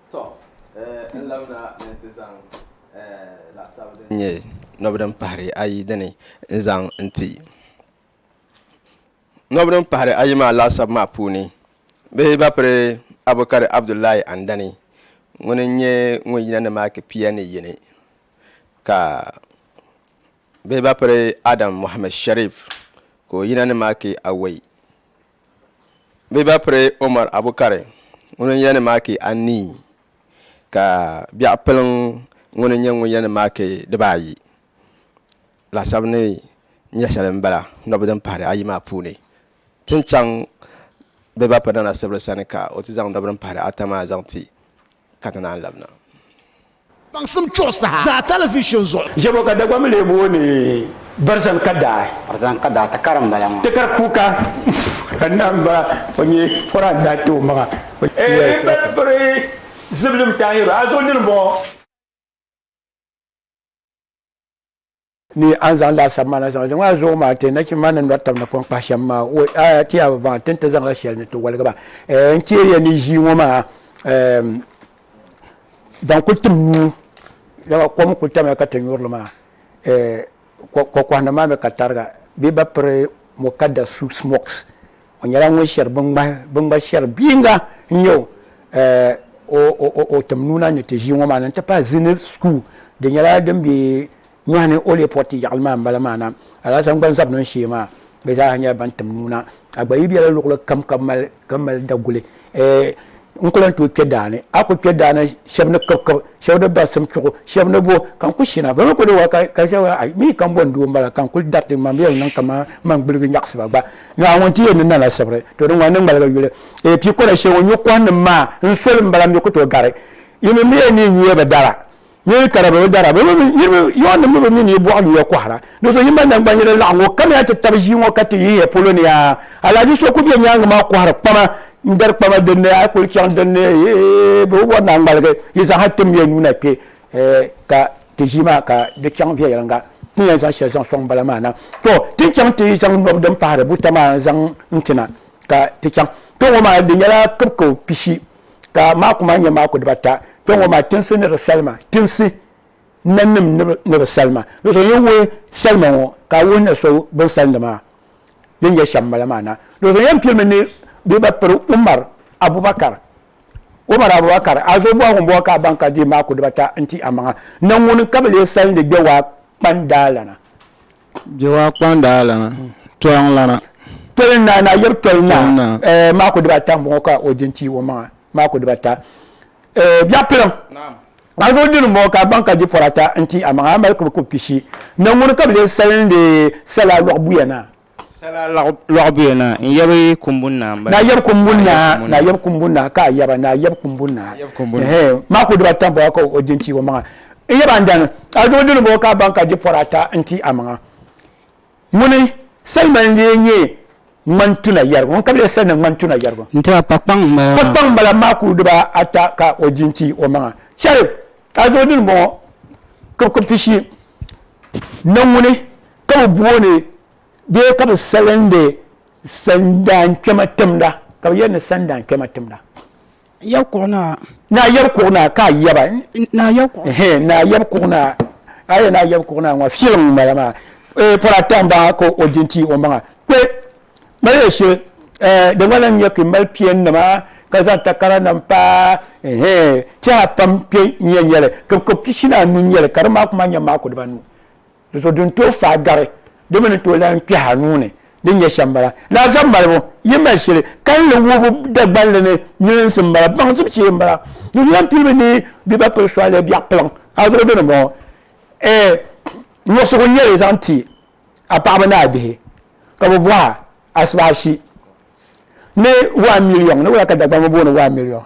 Tɔ! N labina ni nti zaŋ laɣisab din nyɛ nɔb din pahiri ayi dini n-zaŋ n-ti. Nɔb din pahiri ayi maa laɣisab maa puuni, bihi ba piri Abukari Abdullahi Andani, ŋuni n-nyɛ ŋun yina ni maaki pia ni yini, ka bihi ba piri Adam Mohammed Sharif, ka o yina ni maaki awɔi. bɛ ba piri Omar Abukari ŋun n yɛni maaki anii ka biɛɣu piliŋ ŋun n nyɛ ŋun yɛni maaki dibaayi laasabu ni nyɛ shɛli n bala nɔbi din pahiri ayi maa puuni ti ni chaŋ bɛ ba piri Nana Sibiri sani ka o ti zaŋ nɔbi din pahiri ata maa zaŋ ti ka ti naan labina. Baŋsim chuɣu saha zaa talivishon zuɣu. Ʒebo ka Dagbaŋ lee booni Barzan Kadaai. Barzan Kadaai takara m-bala maa. Takar kuuka pɔra anahi m-bala. O nyɛ pɔra anahi ti o maŋa. O nyɛla Isaka. Ehi piri Ziblim Tahiru. A zuɣu nini m-bɔŋɔ? ni a ni zaŋ laasabu maa na zaŋ zaŋ a zuɣu maa ti nachimba maa ni nɔri taba ni pɔn kpahi shɛm maa o a ti yaa baŋ ti ni ti zaŋla shɛli ni ti waligi ba n teeri ya ni ʒii ŋɔ maa ban kuli tim nuu dama kom kuli tamya ka ti nyurili maa kɔkɔhina maa mi ka tariga bee ba piri mukadda suit smocks O nyɛla ŋun shɛri biŋŋmahi shɛri biyiŋga n-nyɛ o tim nuuna ni ti ʒii ŋɔ maa ni n-ti pahi Zini School di nyɛla din be nyɔhi ni o leei pɔriti yaɣili maa m-bala maa na Alasan gba zabi niŋ shee maa bɛ zaa nyɛla ban tim nuuna a gba yi bela luɣili kam ka mali daguli. n ku lan tooi kpe daa ni a ku kpe daa ni shɛba ni kibikib shɛba ni basim kpiɣu shɛba ni bo ka n ku shina bɛ mi ku ni wa ka ka shɛba a mi ka n bɔni doo m-bala ka n kuli dariti n maŋ yɛli niŋ kaman man gbuligi nyaɣisiba gba Naawuni ti yɛn ni nana sibiri to di ŋɔni ni ŋmaligi yuli eei pii kɔna shee ŋɔ nyuɣikɔhiniŋ maa n soli m-bala m mi ku tooi gari yi mi mi yɛn ni yi nya bɛ dala Yi yi kara bɛ bi dara, Yɔn nim mi bi mi ni yi bɔɣi yuya kɔhira. Di zuɣu yi mali nangbani yɛri laɣim ŋɔ, kamiya ti tabi ʒii ŋɔ ka ti yihi ya polo ni aa. Alahaji so ku be nyaaŋa maa kɔhiri kpama n-dari kpama din ni a kuli chaŋ din ni eeh bɛ bi bɔri ni a ŋmaligi yi zaŋ ha tim ya nuu na kpe ka ti ʒii maa ka di chaŋ viɛnyɛliŋga ti ni yɛn zaŋ shɛli zaŋ sɔŋ bala maa na. To ti ni chaŋ ti yi zaŋ nɔbi din pahiri buta maa zaŋ n-ti na ka ti chaŋ kpe ŋɔ maa di nyɛla kibiko pishi. ka maaku maa nyɛ maaku dibata kpɛ ŋɔ maa tinsi ni di salima tinsi nanim ni bi salima ni so yɛn wuhi salima ŋɔ ka a wuhi na so bin salindi maa din nyɛ shɛm mala maa na ni so yɛn pirimi ni bɛ ba piri umar abubakar umar abubakar a zo bɔhigu bɔhi ka a baŋ ka di maaku dibata n ti a maŋa na ŋuni ka bi lee salindi gbɛ waa kpandaalana Jehowa kpanda alana tɔliŋ lana. Tɔliŋ naa na yɛbu tɔliŋ naa eh, maako dibata m-bɔŋɔ ka o di n-ti o maŋa, maako dibata. Eh, biɛɣu piliŋ, alifu dini m-bɔŋɔ ka a baŋ ka di pɔri ata n-ti a maŋa, a mali kubu kub pishi. Ni ŋuni ka bɛ lee salindi sala lɔɣubuya naa? Sala lɔɣubuya naa n yɛbu kumbuni naa m-bala. Naa yɛbu kumbuni naa, naa yɛbu kumbuni naa ka a yɛba, naa yɛbu kumbuni naa. Ehe, maako dibata m-bɔŋɔ ka o di n-ti o maŋa. n yɛba n dani adubu dini bɔɔ ka ban ka di pɔri ata n ti amaŋa ŋuni salima n lee nyɛ ŋmani tuna yɛrigu ŋun ka bi lee salina ŋmani tuna yɛrigu n tiba pakpaŋ n bala maa pakpaŋ n bala maa kuli diba ata ka o di n ti o maŋa sharif adubu dini bɔɔ ka bi kuli pishi na ŋuni ka bi booni Bee ka bɛ salindi sandankpɛma timda, ka bɛ yɛli ni sandankpɛma timda. Yab kuɣu naa. Naa yab kuɣu naa ka a yaba. Naa yab kuɣu. Hee, naa yab kuɣu naa. A yɛli naa yab kuɣu naa ŋɔ, filim m-bala maa. Ee, pɔri ata m-bɔŋɔ ka o di n-ti o maŋa. Kpe, mali ya shili. Ɛɛ, di gba lahi nya ka yi mali piɛnnima ka zaŋ takaranima pa, hee, tɛha pam kpe n-nyɛ n-nyɛ li. Kibikib pishi ni anu n-nyɛ li, ka di maak maa nyɛ maaku dibanu. Di zuɣu din tooi faai gari di mi ni tooi lahi kpɛhi a nuu ni din nyɛ shɛm bala. Laazab malibu, yi mali shili kalinli wuhibu Dagbanli ni nyilinsi m-bala, baŋsim shee m-bala. Di zuɣu yɛn pilibu ni bɛ ba pili sɔɣili biɛɣu kpiliŋ. A zuɣu dini m-bɔŋɔ. Ɛɛ, nuɣisigu n-nyɛ li zaŋ ti a paɣaba ni a bihi ka bɛ bɔh a asibaashi ni one million, ni wula ka Dagbani ŋɔ booni one million?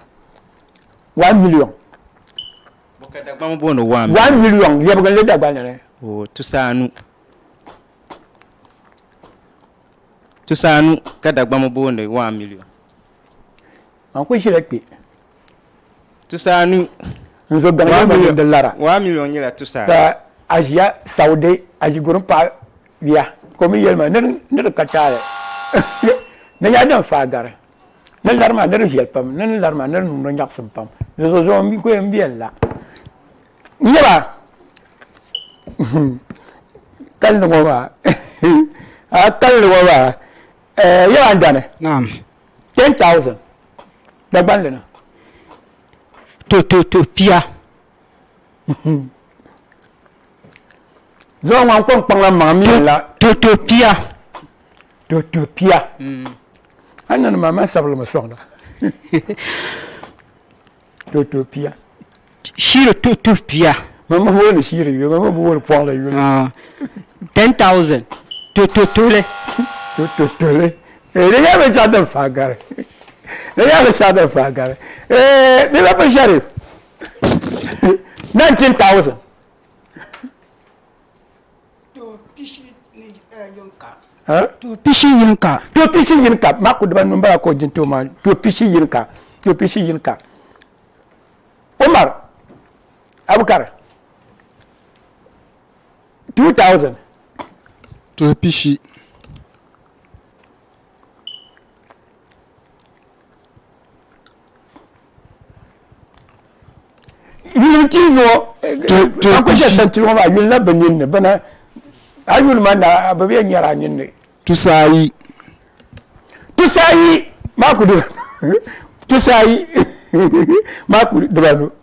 One million. One million lɛbiginli Dagbani ni. Tusaanu ka Dagbani booni one million. Man kuli ʒila kpe. Tusaanu. N zo gaŋ yɛli ma ni di lara. One million nyɛla tusaanu. Ka a ʒiya Saudi a ʒi gurin paɣa bia ka o mi yɛli ma ni di ka taali ni yaa din faai gari. Ni lari maa, ni di viɛli pam. Ni ni lari maa, ni di niŋdi o nyaɣisim pam. Di zuɣu zuɣu m-mi kuyili m-be n-la. Nyaba! Kali ni ŋɔ maa a kali ni ŋɔ maa eh, yaba n-dani? Naam. Ten thousand Dagbanli ni. To, to, to, pia. Zuɣu ŋan kɔŋ kpaŋ la maŋ mi la. Totopia. Totopia. Mm. An na ma ma sabili mi soŋda. Totopia. Shiri totopia. Ma ma woni shiri yuli, ma ma bi woni pɔɣila yuli. Ah. 10,000. Tototole. Tototole. Eh, di nyɛla binshaɣu din faa gari. Di nyɛla binshaɣu din faa gari. Eh, di la bi shɛri. 19,000. pishi yini ka to pishi yini ka ma ku diba num bala ko jin to ma to pishi yini ka to pishi yini ka Umar Abukar 2000 to pishi yuli ti yo ka ku ʒɛ santi ŋɔ maa yuli na bi ninni bana a yuli ma na bi bɛ nyɛra a ninni tusaayi tusaayi maa ku dira tusaayi maa ku dibanu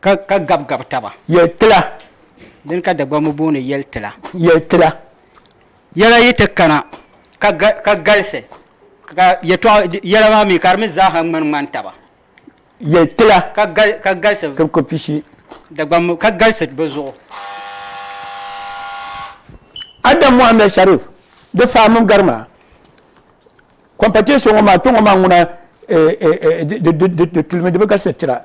Ka, ka gabi gabi taba. Yɛli tila. Dini ka Dagbamb booni yɛli tila. Yɛli tila. Yɛla yi ti kana ka, ka galisi, ka yɛtɔɣa, yɛla maa mi ka di mi zaa ha ŋmani ŋmani taba. Yɛli tila. Ka, ka galisi. Ka bi ko pishi. Dagbamb, ka galisi bi zuɣu. Adam Mohammed Sharif, di fahi mini gari maa. Competition ŋɔ maa kpe ŋɔ maa ŋuna eh, eh, eh, di, di, di, di tulimi di bi galisi tira.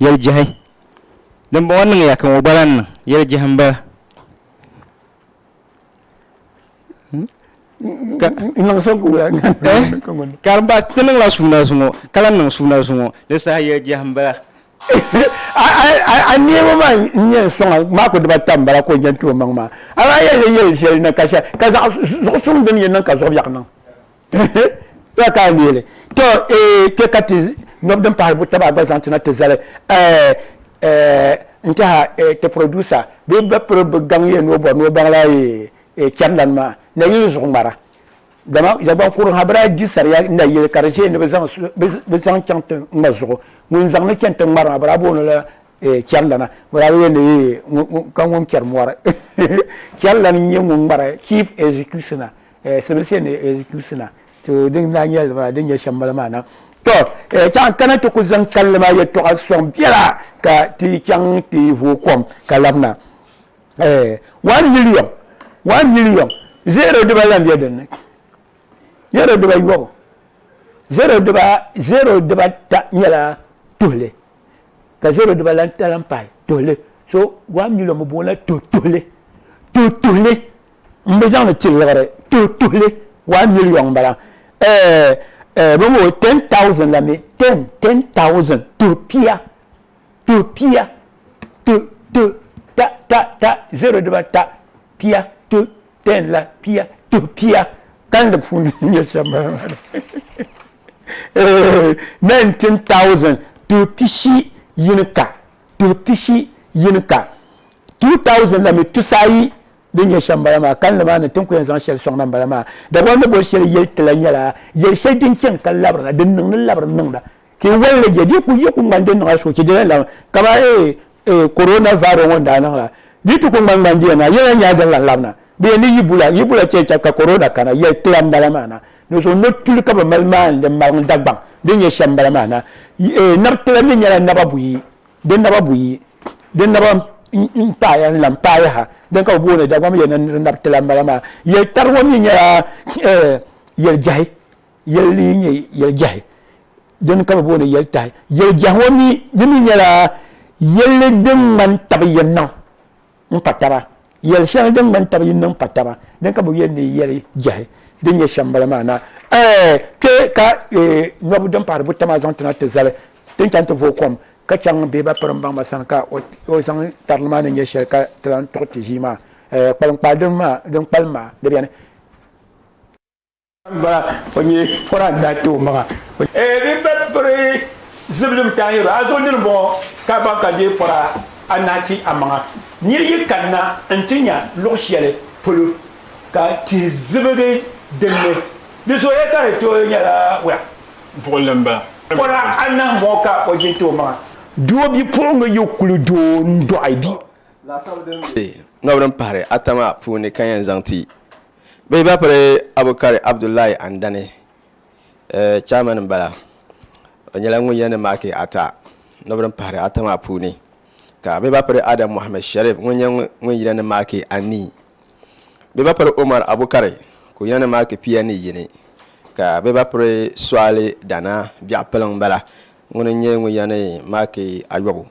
Yɛli jɛhi dimbɔŋɔ niŋya ka ŋɔ gba lahi niŋ yɛli jɛhi m-bala ka di ba ti niŋla suuna zuŋɔ ka lahi niŋ suuna zuŋɔ di saha yɛli jɛhi m-bala a neema maa n-yɛn sɔŋa maa ku dibata m-bala ka o yɛn ti o maŋ maa a maa yɛn yɛli shɛli na ka zaɣ zuɣusuŋ dini yɛn niŋ ka zuɣubiɛɣu niŋ ya ka leeli to ee eh, kpe ka ti nyɔbu din pahari butaba gba zaŋ tina ti zali eh, eh, n tiɛha ti producer bee ba piri bi gaŋ yɛ ni o bɔri ni o baŋla chɛrilani maa nayili zuɣu ŋmara dama zagbaŋ kurin ha bira di sariya nayili ka di ʒɛya ni bi zaŋ chaŋ ti ŋma zuɣu ŋun zaŋ ni chɛni ti ŋmari maa bira booni la chɛrilana bira yɛ ni ka ŋun chɛri mɔri chɛrilani n nyɛ ŋun ŋmara chief executioner eh, sibilisi ni eh, kusina to din daa nyɛli maa din nyɛ shɛm bala maa na to eh, chaŋ kana ti ku zaŋ kalli maa yɛtɔɣa sɔŋ biɛla ka ti chaŋ ti vooi kom ka labina eh, one million one million zero diba lan bɛ dinni zero diba yɔbu zero diba zero diba ta nyɛla tuhili ka zero diba lan ta lan pahi tuhili so one million bi boona to tuhili to tuhili n bi zaŋli ti liɣiri tuhi tuhili one million m-bala bɔŋɔ ten thousand la mi ten ten thousand tuhi pia tuhi pia tuhi tuhi ta ta ta zero diba ta pia tuhi ten la pia tuhi pia kan di puuni nyɛ shɛm nineteen thousand tuhi pishi yini ka tuhi pishi yini ka two thousand la mi tusa ayi din nyɛ shɛm bala maa kalinli maa ni ti ni ku yɛn zaŋ shɛli sɔŋ na m-bala maa. Dagbaŋ ni boli shɛli yɛli ti la nyɛla yɛli shɛli din chani ka labirina, din niŋ ni labiri niŋda. Ka yi wali li je, di yi ku yi ku ŋmani din niŋla suhuchee, di na lan kamani ee, ee, Corona Virus ŋɔ ni daa niŋ la, di yi ti ku ŋmani ŋmani di yɛn na, yi lan nyaai din lan labina. Di yɛn ni Yibula, Yibula chɛ chɛ ka Corona kana, yɛli ti la m-bala maa na. Dinzuɣu no tuli ka bɛ mali maani din maliŋ Dagbaŋ din nyɛ shɛm m-bala maa na. Yi, ee, nab ti la mi nyɛla naba buyi, Din naba buyi, din naba n-paaya n-lan paayaha, din ka bɛ booni Dagom yɛli ni di nabi ti la m-bala maa. Yɛl tari ŋɔ mi nyɛla yɛl jɛhi, yɛl din nyɛ yɛl jɛhi, din ka bɛ booni yɛl tahi. Yɛl jɛhi ŋɔ mi, di mi nyɛla yɛlli din ŋmani tabi yɛnniŋ. n kpa taba. Yɛli shɛŋa din ŋmani tab yinni n kpa taba, dini ka bɛ yɛli ni yi yɛli jɛhi din nyɛ shɛm bala maa na, Ɛɛ! Kpe ka nyɔbu din pahiri buta maa zaŋ ti na ti zali ti ni chaŋ ti vooi kom ka chaŋ bee ba pirimbaŋ maa sani ka o zaŋ tarili maa ni nyɛ shɛli ka ti lan tuɣi ti ʒii maa? Ɛɛ! Kpaliŋkpaa din kpalim maa di beni? Ba o nyɛ pɔra n daa kpɛ o maŋa. Ee bi ba piri zibilim tahi yɛro a zuɣu nini bɔŋɔ ka ban ka deei pɔra anahi ti a maŋa. Niri yi kanna n ti nya luɣ shɛli polo ka tihi zibigi din ni, di zooya ka di tooi nyɛla wula? Buɣili m-ba. Pɔra anahi m-bɔŋɔ ka o jin ti o maŋa. Doo bipuɣiŋga yi kuli do n-dɔɣi bi. Laasabu din be ŋabu din pahiri ata maa puuni ka yɛn zaŋ ti Bɛ ba piri Abukari Abdullahi Andani, chairman m-bala. O nyɛla ŋun yɛn ni maaki ata nɔba din pahiri ata maa puuni, ka bɛ ba piri Adam Mohammed Sharif ŋun nyɛ ŋun yina ni maaki anii. Bɛ ba piri Umar Abukari ka o yina ni maaki pia ni yini, ka bɛ ba piri Suali Dana Biɛɣu Piliŋ m-bala ŋun nyɛ ŋun yɛn ni maaki ayɔbu.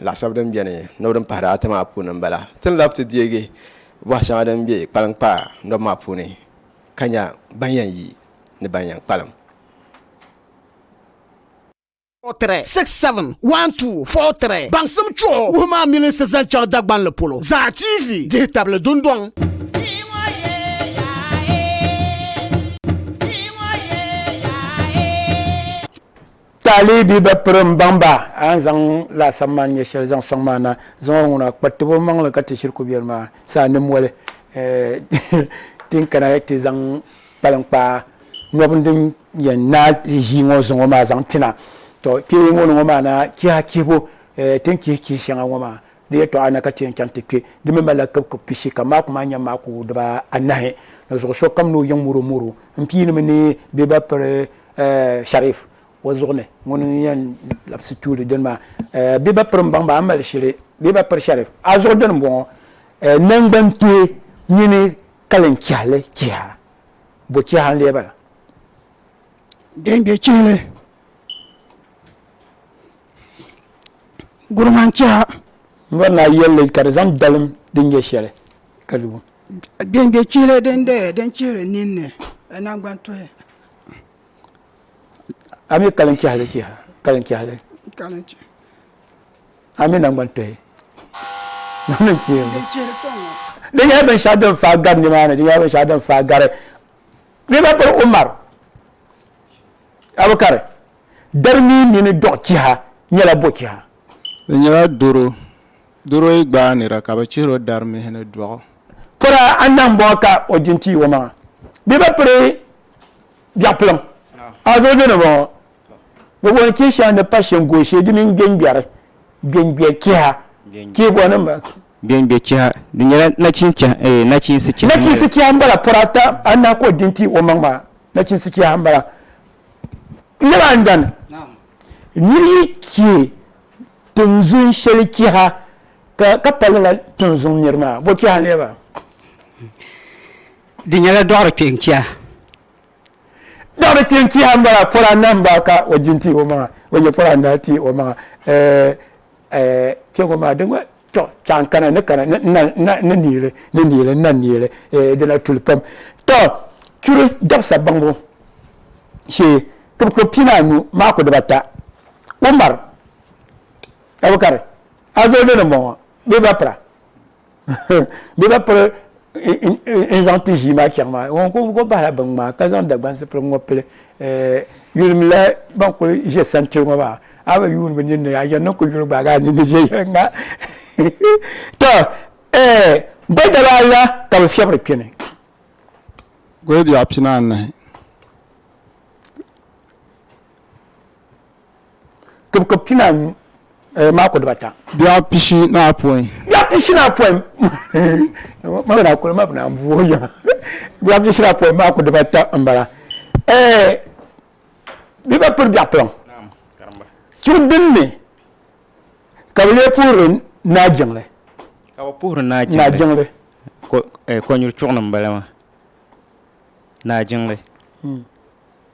laɣisab din beni nob din pahiri ata maa puuni m-bala. Ti ni labi ti deegi bɔha shɛŋa din be kpaliŋkpaa nob maa puuni ka nya ban yɛn yi ni ban yɛn kpalim. Fɔɣitiri, six, seven, one, two, Fɔɣitiri, baŋsim chuɣu wuhi maa milinsi zaŋ chaŋ Dagbanli polo zaa TV dihi tabili dundɔŋ. Taalibi ba piri m-baŋ ba, a ni zaŋ laasabu maa ni nyɛ shɛli zaŋ sɔŋ ma na, zaŋ o ŋuna kpa tab o maŋ li ka ti shiri ku biɛri maa saa ni moli ti ni kana ti zaŋ kpaliŋ kpaa nɔbini din yɛn naai ʒii ŋɔ zuŋɔ maa zaŋ ti na. Tɔ kpeeŋɔ ni ŋɔ maa na chiha chihibu ti ni chihi chihi shɛŋa ŋɔ maa Di yɛtɔɣa na ka ti yɛn chaŋ ti kpe, di mi malila kibikib pishi, ka maaku maa nyɛ maaku dibaa anahi, ni zuɣu sokam ni o yiŋ muromuro m-piinimi ni bɛ ba piri Sharif o zuɣu ni. Ŋuni n-yɛn labisi tuuli dini maa, bɛ ba piri m-baŋ ba, a mali shili bɛ ba piri Sharif a zuɣu dini m-bɔŋɔ. Naŋgban kpee mini kalin chihili chiha, bo chiha n-lee bala? Genge chihili Gurim n chɛha. N bɔri ni a yɛlli ka di zaŋ dalim din nyɛ shɛli ka di wum. Gbɛngbɛ chihili din doya din chihiri ninni ka nangbani tuhi. A mi kalim chɛhili chiha kalim chɛhili. Kalim chɛhili. A mi nangbani tuhi. Din chihiri kpɛŋ ŋɔ. Di nyɛla binshɛɣu din faai gari nimaani di nyɛla binshɛɣu din faai gari. Bɛ ba piri Umar. Abukari, Dari mii mini dɔɣi chiha nyɛla bɔ chiha? Di nyɛla doro. Doro yi gbaai nira ka bi chihir o dari mihi ni dɔɣu. Pɔra anahi m-bɔŋɔ ka o di n-ti o maŋa. Bɛ bi piri biɛɣupilim. Azɔlibiɛni m-bɔŋɔ. Bɛ booni chihi shɛŋa ni pashingooshe di mini gbeŋgbɛri, gbeŋgbɛ chiha, chihigo ni m-bala. Gbeŋgbɛ chiha, Di nyɛla nachinsi chiha. Nachinsi chiha m-bala pɔra ata anahi ka o di n-ti o maŋa maa. nachinsi kiyaha n bala niriba a ni dani niri yi kiɛ tinzun shɛli kiha ka ka pali la tinzun niri maa bo kiha n ba di nyɛla dɔɣiri kpɛ n kiha dɔɣiri kpɛ n kiha n bala pɔra nam ba ka o jin ti o maŋa o yɛ pɔra n daa ti o maŋa eh, eh, kpɛ ŋɔ maa di To cha n kana ni kana ni niili ni niili na niili eh, dina tuli pam to churi dabisa baŋbu shee ka bi kpi anu maa ku dibata umar abukar azodo ni bɔŋɔ bee ba pira bee ba piri n zaŋ ti ʒii maa chaŋ maa ŋun kuli bahila bin ŋmaa ka zaŋ Dagban zipiligu ŋɔ pili yulimla ban kuli ʒɛ santili ŋɔ maa a bi yuuni bi ninni a yɛn ni kuli yuli gbaagi a ninni ʒɛ yɛli ŋa to goli daba ala ka bi fiɛbiri kpɛ ni goli biɛɣu pinaanahi kibikib pinaanu eh, maako dibata. Biɛɣu pishi ni apɔin. Biɛɣu pishi ni apɔin ma bina kuli ma bina buo yiŋa biɛɣu pishi ni apɔin maako dibata n bala eh, bi ba piri biɛɣu piliŋ chibi dinni ka bi lee puhiri naa jiŋli ka bi puhiri naa jiŋli eh, kɔnyuri chuɣu ni n bala maa naa jiŋli hmm.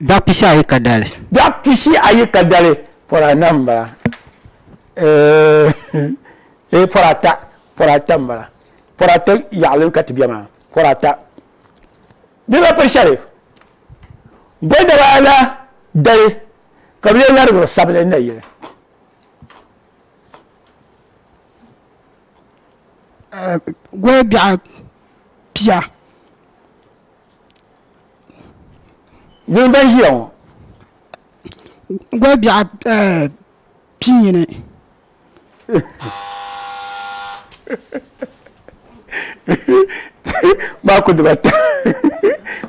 Biɛɣ pishi ayi ka dali. Biɛɣ pishi ayi ka dali, pɔri anahi m-bala. Eeh, pɔri ata, pɔri ata m-bala. Pɔri ata yaɣili ka ti be maa, pɔri ata. Bɛ ba piri shɛli. Gɔldaba ana dali ka bɛ lee larigiri sabili na yili. Gɔlbiɛɣ pia. Ŋuni ban ʒiya ŋɔ goli biɛɣu pii yini maa ku dibata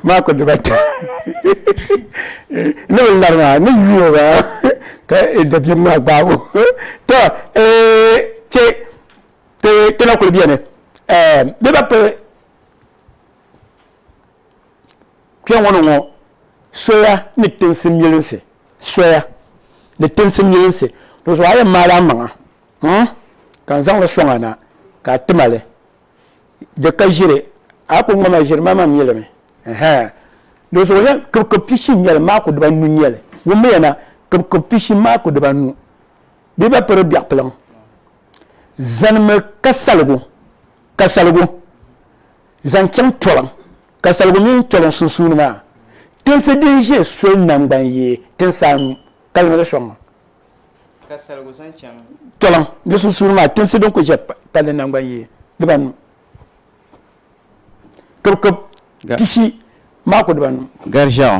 maa ku dibata ni bi lari maa ni yuuo maa ka dabiɛm maa gbaabu to kpe kpe na kuli beni bɛ ba pili Kpɛŋɔ ni ŋɔ, soya ni tinsi milinsi, soya ni tinsi milinsi. Dozɔ a yɛn maali a maŋa hmm ka n zaŋ li sɔŋ a na ka a tima li. Di ka ʒiri, a ku ŋma ma ʒiri ma mam yɛlimi ɛhɛɛ. Dozɔ o yɛn kibikib pishi n-nyɛ li, maaku diba nu n-nyɛ li. Wummiya na, kibikib pishi maaku diba nu. Bɛ ba piri biɛɣ piliŋ. Zanimi ka saligu, ka saligu. zaŋ chaŋ toliŋ ka saligu mini toliŋ sunsuuni maa tinsi din ʒe soli nangban yi tinsi anu ka niŋ di sɔŋ ka saligu zaŋ chaŋ toliŋ ni sunsuuni maa tinsi din ku ʒe palli nangban yi dibanu kibikib tishi maa ku dibanu gariʒɛɣu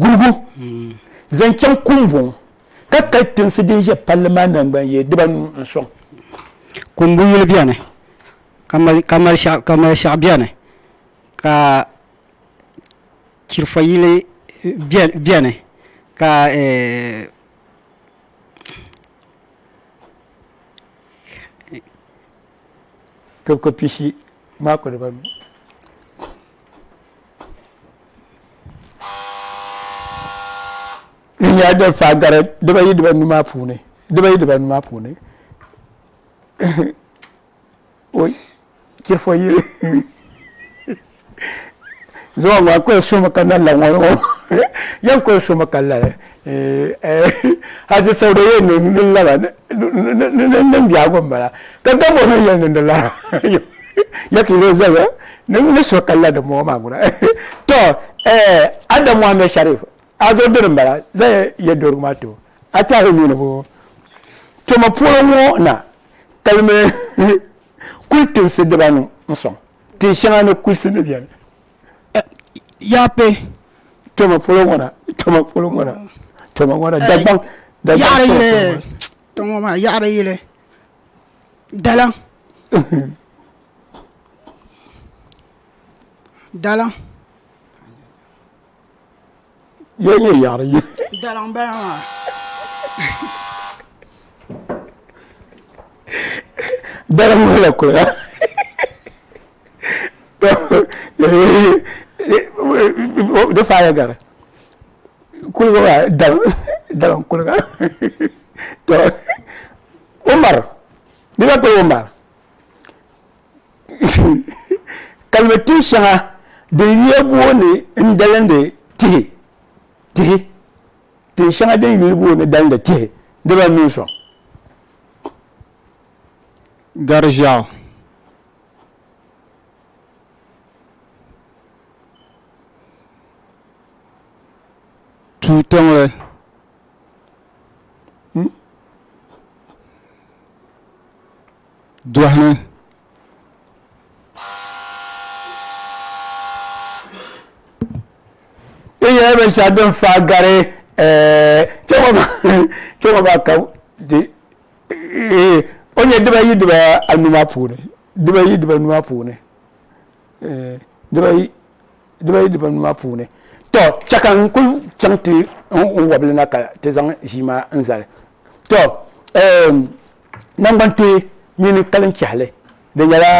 guligu zaŋ chaŋ kumbɔŋ ka kali tinsi din ʒe palli maa nangban yee dibanu n-sɔŋ. Kumbu yuli beni, ka mali shɛɣu beni, ka chirifɔ yili beni, ka tibiko pishi maa kuli ba mi. Din yaa din faa gari dibayi dibanu maa puuni dibayi dibanu maa puuni chirifo yili zuɣu ŋɔ n kuli sumi ka na la ŋɔ ŋɔ ya n kuli sumi ka lala hajji sauda yɛn niŋ ni lala niŋ biɛhigu n bala ka gamburi ni yɛn niŋdi lala ya ka yuli zaya ni suhi ka la dimbɔŋɔ maa gura to Adam Mohammed Sharif a zuɣu dini n bala zaŋ yɛduhirigu maa to a tɛhi nuu ni bɔ tuma puuni ŋɔ na kalimi kuli tinsi dibanu n sɔŋ Tin shɛŋa ni kulisi ni bɛni yaa kpe toma polo ŋɔ na toma polo ŋɔ na toma ŋɔ na eh, dagbaŋ dagbaŋ yili toma maa yaɣari yili dalaŋ dalaŋ Yo nyɛ yaɣiri yi. Dala n bala maa. Dala n bala kuli la. Di faaya gari. Kuliga maa dala n kuliga. To Umar, di ka to Umar. kalimi tihi shɛŋa din yuya booni n dalindi tihi tihi tihi shɛŋa din yuya booni dalindi tihi dibaa mini soŋ gari ʒiɛɣu tuu tiŋli Dɔhini ti nyɛla binshɛɣu din faa gari kpɛŋɔ maa ka o nyɛ dibayi diba anu maa puuni dibayi diba anu maa puuni dibayi dibayi diba anu maa puuni tɔ chɛ ka n kuli chaŋ ti n wɔbili na ka ti zaŋ ʒii maa n zali tɔ Naŋgban kpee mini kalin chɛhili di nyɛla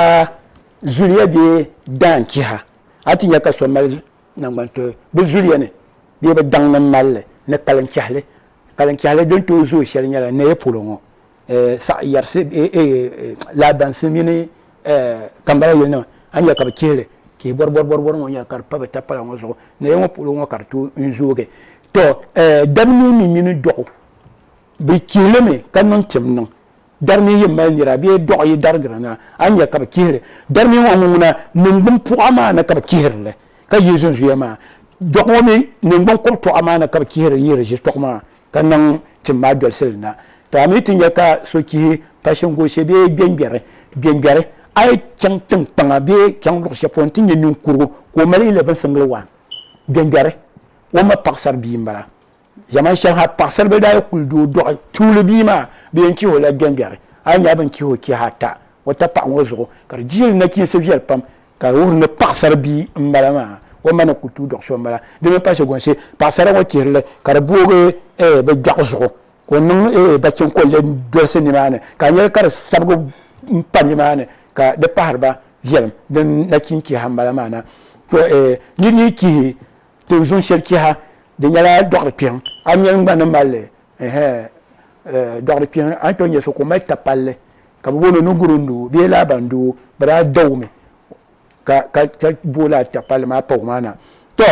zuliya bee daan chiha a ti nya ka so mali naŋgban kpee bi zuliya ni bee bi daŋ ni mali li ni kalin chɛhili kalin chɛhili din tooi zooi shɛli nyɛla naya polo ŋɔ saɣi yɛrisi lahabinsi mini kambala yili nima a ni nya ka bi chihili chihi bɔri bɔri bɔri ŋɔ nya ka di pa bi tapala ŋɔ zuɣu naya ŋɔ polo ŋɔ ka di tooi zoogi to dabnii mi mini dɔɣu Bɛ chihi li mi ka niŋ tim niŋ. Dari mini yi mali nira bee dɔɣi yi darigira na, a ni nya ka bɛ chihiri dari mini ŋɔ ŋuna niŋgbuŋ puɣa maa ni ka bɛ chihiri li ka yi zunzuya maa. Dɔɣi ŋɔ mi niŋgbuŋ kɔbitɔɣa maa ni ka bɛ chihiri yi riʒitɔɣu maa ka niŋ tim maa dolisi li na. To a mi ti nya ka so chihi pashingoshi bee gbɛngbɛri gbɛngbɛri, a yi chaŋ tiŋkpaŋa bee chaŋ luɣ shɛli polo nti nya niŋkurugu ka o mali yi lɛbinsiŋ li waan. Gbɛngbɛri, o ma paɣisar bia m-bala. Zaman shɛli ha paɣasaribili daa yi kuli doo dɔɣi tuuli bia maa, bɛ yɛn chihi o la gbɛngbɛri. A yi nya bɛ ni chihi o chihi ata o tapaɣa ŋɔ zuɣu, ka di dihili nachiinsi viɛli pam, ka di wuhiri ni paɣasari bia m-bala maa, o ma ni kuli tuui dɔɣi so m-bala. Di mi pa shɛgɔnsi, paɣasara ŋɔ chihiri li ka di boogi eeh bɛ dɔɣi zuɣu, ka o niŋ eeh bachin ka o lee dolisi nimaani, ka a nya li ka di sabigi m-pa nimaani, ka di pahiri ba viɛlim. Din nachin chiha m-bala maa na. To eeh nir yi chihi Ti zuŋ shɛli chiha di nyɛla dɔɣiri kpiɛŋ a ni yɛn gba ni malli dɔɣiri kpiɛŋ a ni tooi nyɛ so ka o mali ta palli ka bi booni o ni guri n doo bee laaba n doo bi daa dɔgi mi ka ka ka booli a ta palli maa pa o maa na to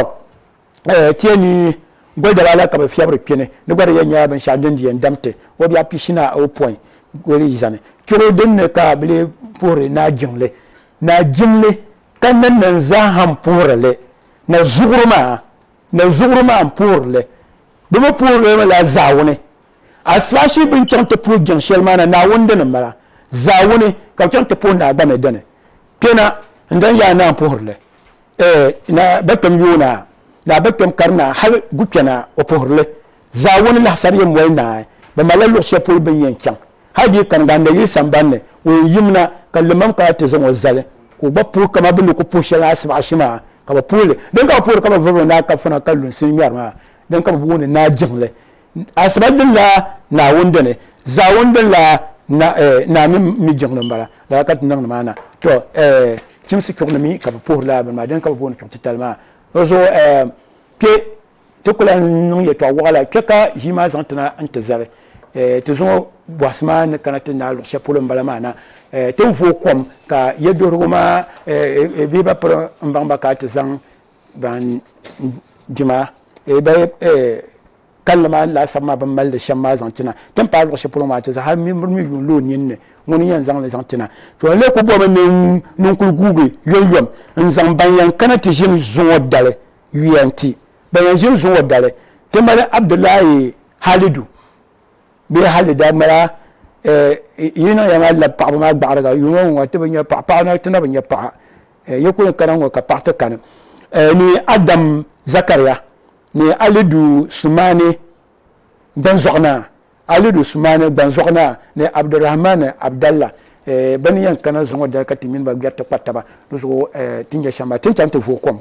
tiɛ ni goli daba la ka bi fiɛbiri kpini di gba di yɛn nyɛla binshaɣu din di yɛn dam ti o biɛɣu pishina ayopɔin goli zani chɛro din ni ka bi lee puhiri naa jiŋli naa jiŋli ka nannan zaa ha n puhiri li na zuɣuri maa na zuɣuri maa n puhirili bi mi puhirili mi la zaawuni asipashi bin chaŋ ti puhi jɛŋ shɛli maa na naawuni dini mala zaawuni ka bi chaŋ ti puhi naa gba mi dini kpɛna n dan yaa naa puhirili na ba kpɛm yoona naa ba kpɛm kari naa hali gu kpɛna o puhirili Zaawuni lahisani yɛn moli naai, bɛ malila luɣ shɛli polo bɛ ni yɛn chaŋ. Hal di yi kani Ganda yili sambani ni, o yɛn yim na ka Limaam kana ti zaŋ o zali, ka o gba puhi kaman bɛ ni ku puhi shɛli a Asibaɣishi maa, ka bɛ puhi li. Din ka bɛ puhiri ka bɛ vuriba naai kafuna ka lunsi ni ŋmɛri maa, din ka bɛ booni naai jiŋli. Asiba dini la Naawuni dini, Zaawuni dini la naa mini mi jiŋli m-bala. Lala ka ti niŋdi maa na. Tɔ! Chimsi chuɣu ni mi ka bɛ puhiri lala bini maa, dini ka bɛ booni chuɣu titali maa. Di zuɣu kpe! ti ku lahi niŋ yɛtɔɣ wɔɣila kpɛ ka ʒii maa zaŋ tina n-ti zali eh, ti zaŋ o bɔhisi maa ni kana ti ni daa luɣ shɛli polo m-bala maa na. Eh, ti vo kom ka yɛduhirigu maa eh, eh, bee ba piri m-baŋ ba ka ti zaŋ ba n-dima eh, ba eh, kalinli maa laasabu maa bɛ ni mali li shɛm maa zaŋ ti na. Ti ni paai luɣ shɛli polo maa ti za hal nimbuni mi yuun lo o nini ni ŋuni n-yɛn zaŋ li zaŋ ti na. To n-lee ku bɔmi ni n kul guugi yomyom n-zaŋ ban yɛn kana ti ʒini zuŋɔ dali. yuya n-ti ban yɛn ʒiri zuŋɔ dali ti mali Abdullahi Halidu bee Hali daa mala eh, yi niŋ ya maa labi paɣaba maa gbaɣiriga yuŋɔ ŋɔ ŋɔ ti bi nya paɣa paɣa na ti na bi nya paɣa eh, yi kuli kana ŋɔ ka paɣa ti kani eh, ni Adam Zakariya ni Alidu Sumani Gbanzɔɣinaa Alidu Sumani Gbanzɔɣinaa ni Abdurrahman Abdalla eh, bɛ ni yɛn kana zuŋɔ dali ka ti mini ba gbɛri ti kpa taba di zuɣu eh, ti nya shɛm maa ti ni chaŋ ti vooi kom.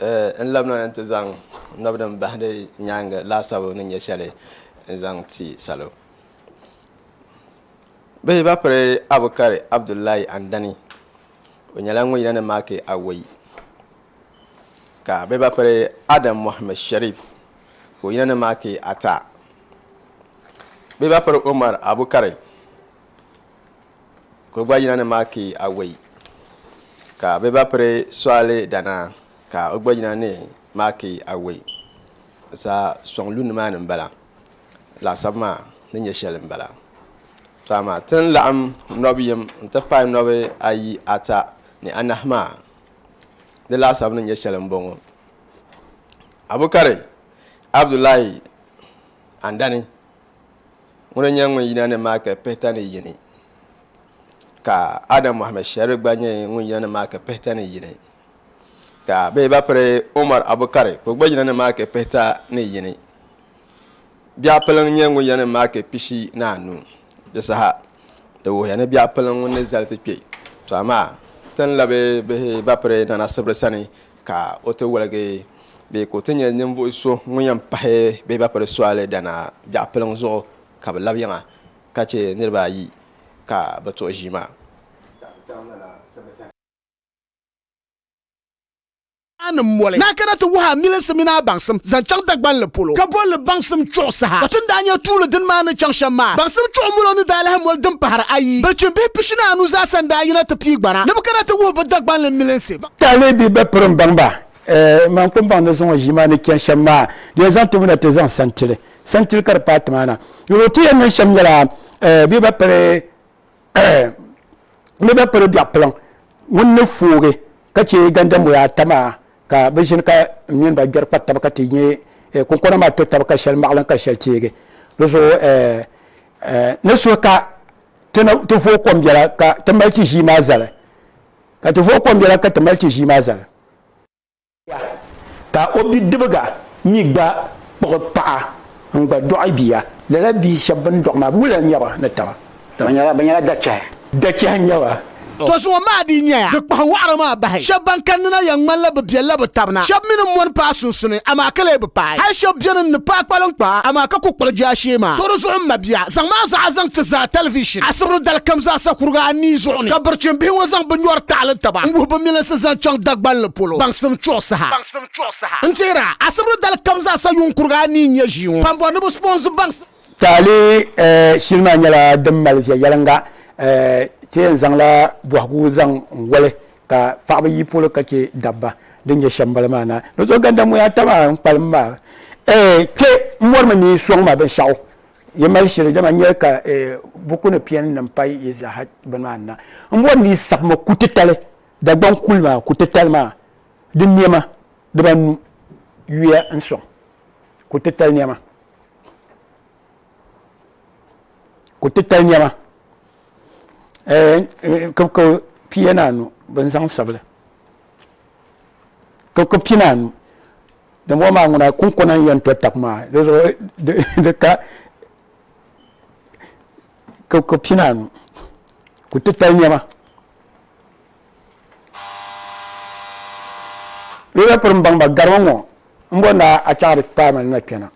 N labina ni ti zaŋ n naba din bahi di nyaangi laasabu ni nyɛ shɛli n zaŋ ti salo bihi ba piri Abukari Abdulai Andani o nyɛla ŋun yina ni maaki awoi ka bihi ba piri Adam Mohammed Sharif ka o yina ni maaki ata bihi ba piri Umar Abukari Ka o gba yina ni maaki awei, ka bɛ ba piri sɔɣili danaa, ka o gba yina ni maaki awei. Di saa sɔŋ lu nimaani m-bala, laasabu maa ni nyɛ shɛli m-bala. To amaa ti ni laɣim nɔb yim nti pahi nɔb ayi, ata ni anahi maa, di laasabu ni nyɛ shɛli m-bɔŋɔ. Abukari Abdulai Andani ŋuna nyɛ ŋun yina ni Maaka pihita ni yini ka Adam Mohammed Sharif gba nyɛ ŋun yina ni Maaka pihita ni yini ka bihi ba piri Umar Abukari ka o gba yina ni Maaka pihita ni yini biɛɣu piliŋ nyɛ ŋun yina ni Maaka pishi ni anu di saha di wuhiya ni biɛɣu piliŋ ŋun ni zali ti kpɛ to amaa ti ni labi bihi ba piri Nana Sibiri sani ka o ti waligi bee ka o ti nyɛ ninvuɣ so ŋun yɛn pahi bee ba piri soli dana biɛɣu piliŋ zuɣu ka bɛ labi yiŋa ka chɛ niriba ayi ka bɛ tuɣi ʒii maa. Nanim moli ni a kana ti wuhi a milinsi mini a baŋsim zaŋ chaŋ Dagbanli polo, ka bol li baŋsim chuɣu saha. Ka ti ni daa nya tuuli dini maa ni chaŋ shɛm maa, baŋsim chuɣu mulo ni daa lahi moli din pahiri ayi. Bilichimbihi pishi ni anu zaasa n-daa yina ti pii gbana ni bɛ kana ti wuhi bɛ Dagbanli milinsi. Ka a leei bɛ ba piri m-baŋ ba, ɛɛ, man kum baŋ ni zaŋ o ʒii maa ni chani shɛm maa, di yɛn zaŋ ti bu na ti zaŋ sani ti li. Sani ti li ka di paai ti maa na. Yɛl o ti yɛn niŋ shɛm nyɛla, ɛɛ, bɛ ba piri, ɛɛ, bɛ ba piri biɛɣ piliŋ ŋun ni foogi ka chɛ gandamoya ata maa ka bɛ ʒini ka m mini ba gbɛri kpa taba ka ti nya kunkona maa to taba ka shɛli maɣilim ka shɛli teegi. Di zuɣu, ɛɛ, ɛɛ, ni suhi ka ti ni ti vooi kom biɛla ka ti mali ti ʒii maa zali. ka ti vuhi kom yɛla ka ti mali ti ʒii maa zali. Ka o bidibiga mi gba kpuɣi paɣa n-gba dɔɣi bia. Lala bihi shɛba bɛ ni dɔɣi maa, wula n-nyɛ ba ni taba? Bɛ nyɛla dachɛhi. Dachɛhi n-nyɛ ba. To zuŋɔ maa dii nyɛya di kpahi wɔɣiri maa bahi. Shɛba ban kanni na yɛn ŋmanila bɛ biɛlila bɛ taba na. Shɛba mi ni mɔni paai sunsuni, amaa ka lee bi paai. Hali shɛba beni n-ni paai kpaliŋkpaa, amaa ka ku kpuɣi jaashee maa. To di zuɣu m mabia, zaŋm a zaɣa zaŋ ti zaa tɛlivishin asibiri dali kam zaasa kuriga anii zuɣu. ni. Ka birchimbihi ŋɔ zaŋ bɛ nyɔri taɣili taba n-wuhi bɛ milinsi zaŋ chaŋ Dagbal ni polo baŋsim chuɣu saha. N teera asibri dali kam zaa sa yuŋ kuriga anii n-nyɛ ʒii ŋɔ pam bɔri ni bɛ sponsor baŋsim. Taɣili shili maa nyɛla din mali viɛnyɛliŋga ti yɛn zaŋla bɔhigu zaŋ n-wali ka paɣaba yi polo ka che dabba din nyɛ shɛm bali maa na. Nozɔganda ŋun yaa tam a n-kpalim maa kpe m-mɔrimi ni soŋ ma binshɛɣu Yi mali shili, dama n nyɛli ka buku ni piɛni nim payi yi zaa ha bini maa na. M bɔri ni yi sabimi kutitali, Dagbaŋ kuli maa kutitali maa, di nɛma dibanu yuya n-sɔŋ kutitali nɛma. Kutitali nɛma kibikib pia ni anu bɛ ni zaŋ sabi li, kibikib pia ni anu din bɔ maa ŋuna kunkona n yɛn to tak maa di zuɣu di ka ka pina anu ku titali niɛma di daa piri n baŋ ba garimi ŋɔ n bɔ na a chaɣari kpaami na kpɛna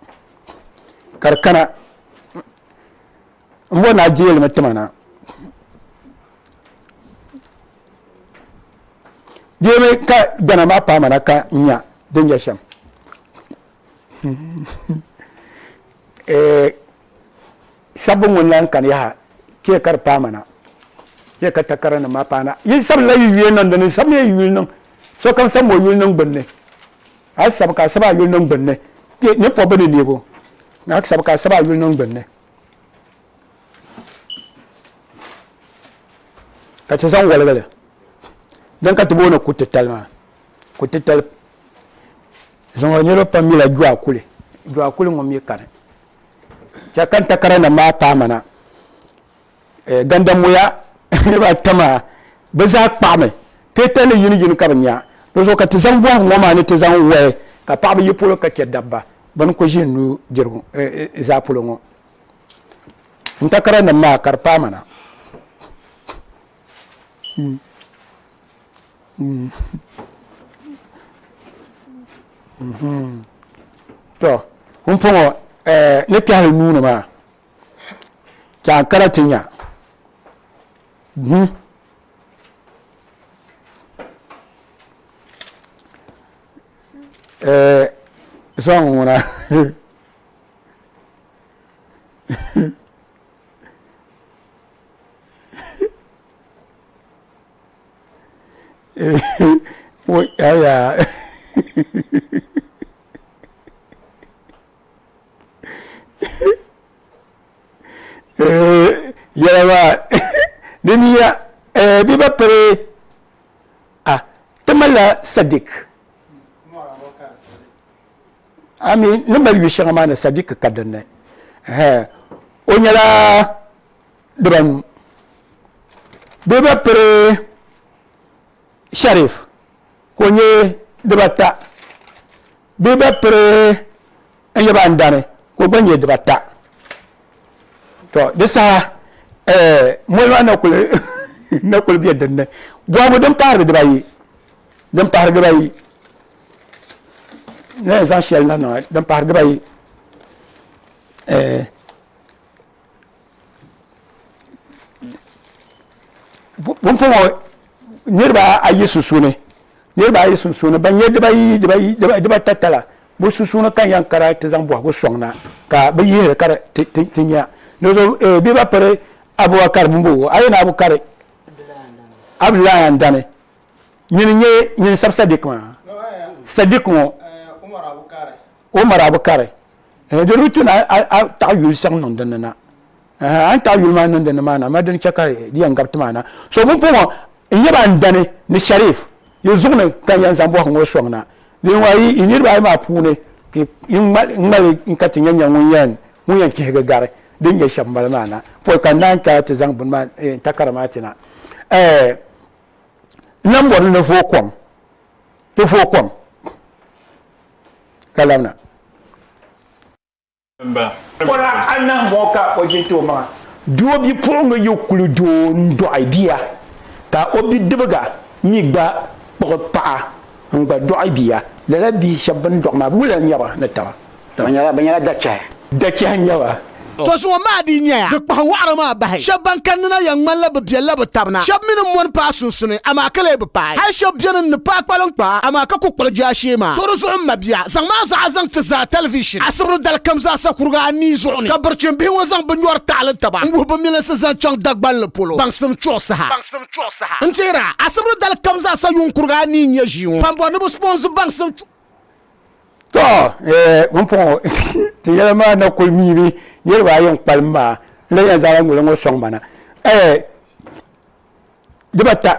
ka di kana n bɔri ni a deei li mi tima na deei mi ka gbana maa paai ma na ka n nya din nyɛ shɛm sabbu ŋun lan kani yaha chɛ ka di paai ma na chɛ ka takara nim maa paai na yi sabila yi yuli niŋ dini sabi miya yi yuli niŋ sokam sabi mi o yuli niŋ gbunni a sabi ka a sabi a yuli niŋ gbunni ni pɔbi ni neego a sabi ka a sabi a yuli niŋ gbunni ka ti zaŋ waligili din ka ti booni ku titali maa ku titali zaŋɔ niriba pam mila jɔa kuli jɔa kuli ŋɔ mi kani chɛ kan takara nim maa paamana eh, gandamoya niriba ata maa bɛ zaa kpaɣimi teta ni yini yini ka bɛ nya di zuɣu ka ti zaŋ bɔhigu ŋɔ maa ni ti zaŋ wahi ka paɣaba yi polo ka chɛ dabba bini ku ʒi nuu dirigu eh, eh, eh, zaa polo ŋɔ n takara nim maa ka di paai mana mm. Mm. Mm-hmm. to n pɔŋɔ eh, ni kpɛhili nuuni maa Ti a kara ti nya. Hmm. Eh, sɔŋ ŋuna. Wai, aya. yɛla maa di mi ya di ba piri a ti malila sadik ami ni mali yu shɛŋa maa ni sadik ka dinni o nyɛla dibanu di ba piri sharif ka o nyɛ dibata bee ba piri n yaba n dani ka o gba nyɛ dibata to di saha moli maa na kuli bɛ dinni bɔhigu din pahari dibayi din pahari dibayi na yɛn zaŋ shɛli na niŋa din pahari dibayi pumpɔŋɔ niriba ayi sunsuuni niriba ayi sunsuuni ban nyɛ dibayi dibayi dibata tala bi sunsuuni ka yan kara ti zaŋ bɔhigu sɔŋ na ka bi yihiri ka ti nya dozo eh, bi ba piri abubakar mumbo a yɛn abukari abdullahi andani nyini nyɛ nyini sab sadiq maa sadiq ŋɔ ka o mara bi kari eh, di di ti na a taɣi yuli siɣim niŋ dinni na eh, a ni taɣi yuli maa niŋ dinni maa na ma dini chɛ ka di yɛn gabi ti maa na so bin puɣu n yɛ ba n dani ni sharif yi zuɣu ni ka n yɛn zaŋ bɔhi ŋɔ sɔŋ na din wa yi i niriba ayi maa puuni ka i ŋmali n ka ti nyɛ nyɛ ŋun yɛn ŋun yɛn kihigi gari din nyɛ shɛba mali maa na pɔi ka n naan ka ti zaŋ bini maa eh, takara maa ti na eh, n na bɔri ni voo kɔŋ ti voo kɔŋ ka labina. Pɔra anahi ŋɔ ka o jinti o maŋa. Doo bipuɣiŋga yi kuli doo n-dɔɣi bia ka o bidibiga mi gba kpuɣi paɣa n-gba dɔɣi bia, lala bihi shɛba bɛ ni dɔɣi maa wula n-nyɛ ba ni taba? Bɛ nyɛla dachɛhi. Dachɛhi n-nyɛ ba. To zuŋɔ maa dii nyɛya di kpahi wɔɣiri maa bahi. Shɛb ban kanni na yɛn ŋmanila bɛ biɛlila bɛ tab na. Shɛb mi ni mɔni paai sunsuni, amaa ka lee bi paai. Hal shɛb beni n-ni paai kpaliŋkpaa, amaa ka ku kpuɣi jaashee maa. To di zuɣu m mabia, zaŋ maa zaɣa zaŋ ti zaa tɛlivishin asibiri dali kam zaasa kuriga anii zuɣu ni, ka birichin bihi ŋɔ zaŋ bɛ nyɔri taɣili taba n-wuhi bɛ milinsi zaŋ chaŋ Dagbanli polo baŋsim chuɣu saha. N teer a, asibiri dali kam zaasa yuŋ kuriga anii n-nyɛ ʒii ŋɔ pambo ni bɛ sponsi baŋsim chuɣu. to eh, bin pɔŋɔ ti yɛla maa na kuli miimi niriba ayi n kpalim maa n la yɛn zaŋla ŋuli ŋɔ sɔŋ mana eh, dibata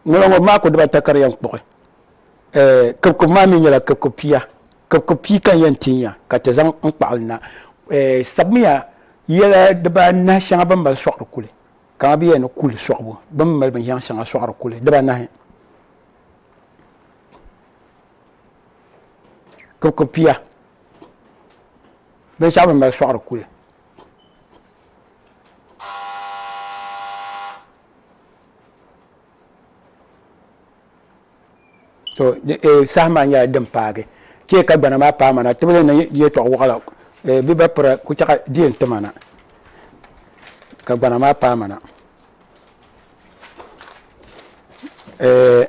ŋuli ŋɔ maa ku dibata ka di yɛn kpuɣi eh, kibikib maa mi nyɛla kibikib pia kibikib pia ka n yɛn tinya ka ti zaŋ n kpaɣili na eh, sabimiya yɛla dibaanahi shɛŋa bin mali sɔɣiri kuli Ka a bi yɛn ni kuli sɔɣibu, bɛ mi mali binshɛŋa shɛŋa sɔɣiri kuli dibaanahi. Kuriko pia, binshɛɣu bɛ ni mali sɔɣiri kuli. to eh, saha maa nyɛla din paagi chɛ ka gbana maa paai mana tibili ni yɛtɔɣ wɔɣila eh, bɛ ba pira ku chɛɣa di yɛn ti mana ka gbana maa paai mana eh,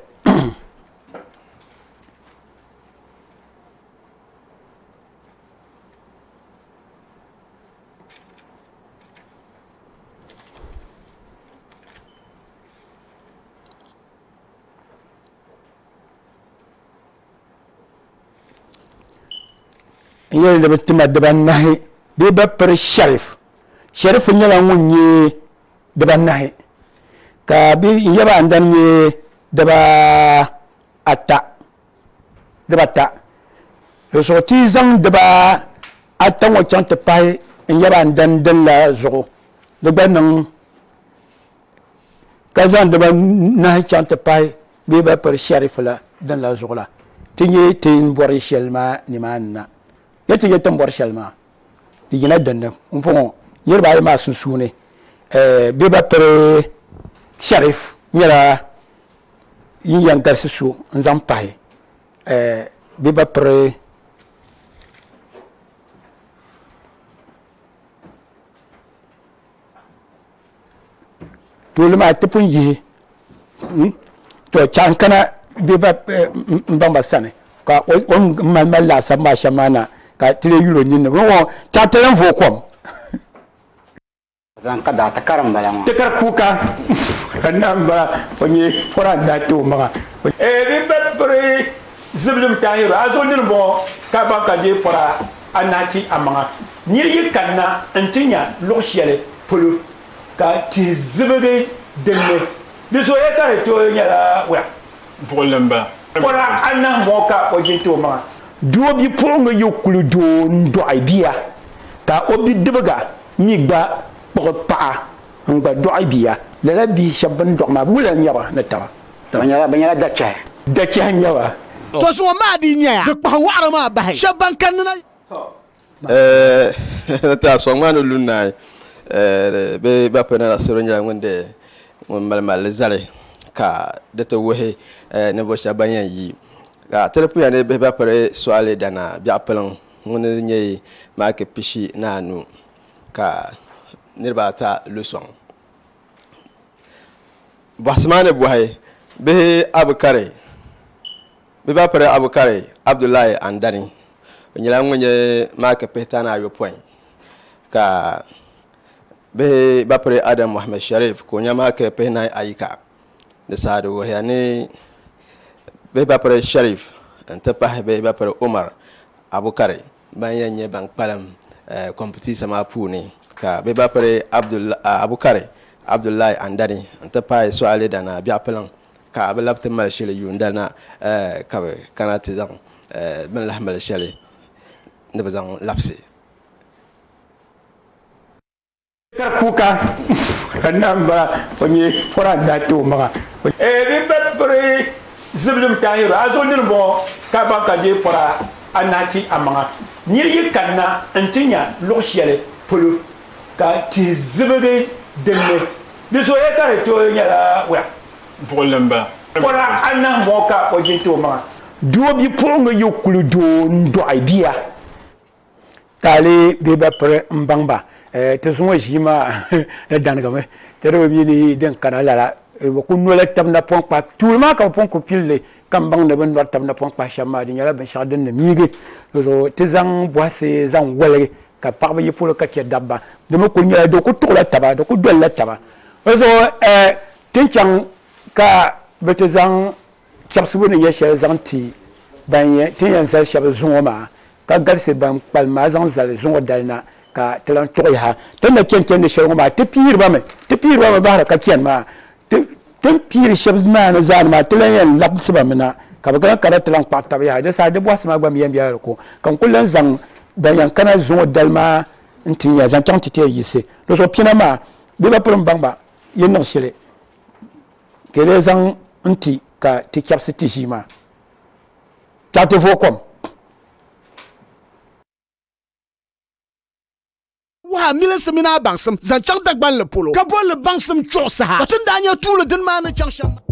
n yɛli ni bi tima dibanahi bee bi piri sharif sharif nyɛla ŋun nyɛ dibanahi ka bi n yaba andani nyɛ diba ata diba ata di zuɣu ti zaŋ diba ata ŋɔ chaŋ ti pahi n yaba andani din la zuɣu di gba niŋ ka zaŋ diba nahi chaŋ ti pahi bɛ ba piri shɛrif la din la zuɣu la ti nyɛ ti ni bɔri shɛli maa nimaani na ni ti nyɛ ti ni bɔri shɛli maa di yina dinni n bɔŋɔ niriba ayi maa sunsuuni bɛ ba piri shɛrif nyɛla yin yɛn galisi so n zaŋ pahi bɛ ba piri dole maa ti pun yihi hmm? to chaŋ kana bɛ ba eh, n baŋ ba sani ka o ni mali mali laasabu maa shɛm maa na ka ti lee yuli o ninni chaŋ ti yɛn vo kom zaŋ ka daa tikari n bala ŋɔ tikari kuuka ka na n bala o nyɛ pɔra n daa ti o maŋa eh, bɛ ba piri zibilim tahiru a zo nini bɔŋɔ ka baŋ ka je pɔra a nahi ti a maŋa. Nir yi kanna nti nya luɣ shɛli polo ka tihi zibigi din ni, di zooya ka di tooi nyɛla wula? Buɣili m-bala. Pɔra anahi mɔ ka o jin ti o maŋa. Doo bipuɣiŋga yi kuli doo n-dɔɣi bia, ka o bidibiga mi gba kpuɣi paɣa n-gba dɔɣi bia, lala bihi shɛb bɛn dɔɣi maa, wula n-nyɛ ba ni taba? Bɛ nyɛla, bɛ nyɛla dachɛhi. Dachɛhi n-nyɛ ba. To zuŋɔ maa dii nyɛya di kpahi wɔɣiri maa bahi shɛba ban kanni na. Eeh ti a sɔŋ maa ni lu naai eeh bɛ ba pɛ nana siro nyɛla ŋun di ŋun mali malli zali ka di ti wuhi eeh ninvuɣu shɛba ban yɛn yi ka ti di puya ni bihi ba piri sɔɣili dana biɛɣu piliŋ ŋuni di nyɛi maaki pishi ni anu ka niriba ata lu sɔŋ. Bɔhisimaani bɔhi bihi Abukari bɛ ba piri Abukari Abdullahi Andani o nyɛla ŋun nyɛ maaki pihitani ayɔpɔin ka bihi ba piri Adam Mohammed Sharif ka o nyɛ maaki pihinahi ayi ka di saha di wuhiya ni bihi ba piri Sharif n-ti pahi bihi ba piri Umar Abukari ban yɛn nyɛ ban kpalim kɔmpitiisa maa puuni ka bɛ ba piri Abukari Abdullahi Andani n-ti pahi Suale Danaa Biɛɣupiliŋ ka bɛ labi ti mali shili yuunda na ka bɛ kana ti zaŋ bini lahi mali shɛli ni bɛ zaŋ labisi Kar kuka ka nam ba o nyɛ koran da to maga. Eh bi ba piri ziblim tahiro a zo nir bɔŋɔ ka ban ka je pora a nahi ti a maŋa nir yi kanna n ti nya luɣ shɛli polo ka tihi zibigi dinni di zoya ka di tooi nyɛla wula buɣilim ba pora a nahi bɔŋɔ ka o jin ti o maŋa. Doo bipuɣinga yo kuli doo n dɔɣi bia. taali bee ba piri n baŋ ba eh, ti zuŋɔ ʒii maa di danigimi ti di bi mi ni din kana lala eh, bi ku nola tabi napɔŋ kpa tuuli maa ka bi pun ku pilli ka n baŋ ni bi ni nɔri tabi napɔŋ kpa shɛm maa di nyɛla binshɛɣu din ni miigi di zuɣu ti zaŋ bɔhisi zaŋ waligi ka paɣaba yi polo ka chɛ dabba di mi kuli nyɛla di ku tuɣila taba di ku dolila taba di zuɣu eh, ti ni chaŋ ka bi ti zaŋ chɛbisibu ni nyɛ shɛli zaŋ ti ban ti ni yɛn zali shɛba zuŋɔ maa ka galisi ban kpalim maa zaŋ zali zuŋɔ dali na ka ti lan tuɣi yaha ti ni na chɛni chɛndi shɛli ŋɔ maa ti pihiri ba mi ti pihiri ba mi bahira ka chɛni maa ti ti ni pihiri shɛba maa ni zaa ni maa ti lan yɛn labisi ba mi na ka bɛ kana kana ti lan kpaɣi taba yaha di saha di bɔhisi maa gba mi yɛn bela di ko ka n kuli lan zaŋ ban yɛn kana zuŋɔ dali maa n ti nya zaŋ chaŋ ti ti yɛn yiɣisi di zuɣu pina maa bɛ ba piri m-baŋ ba yi niŋ shili ka yi lee zaŋ n ti ka ti chɛbisi ti ʒii maa chaŋ ti vooi kom. wuhi a milinsi mini a baŋsim zaŋ chaŋ Dagbanli polo, ka bolli baŋsim chuɣu saha, ka ti ni daa nya tuuli dini maa ni chaŋ shɛm maa.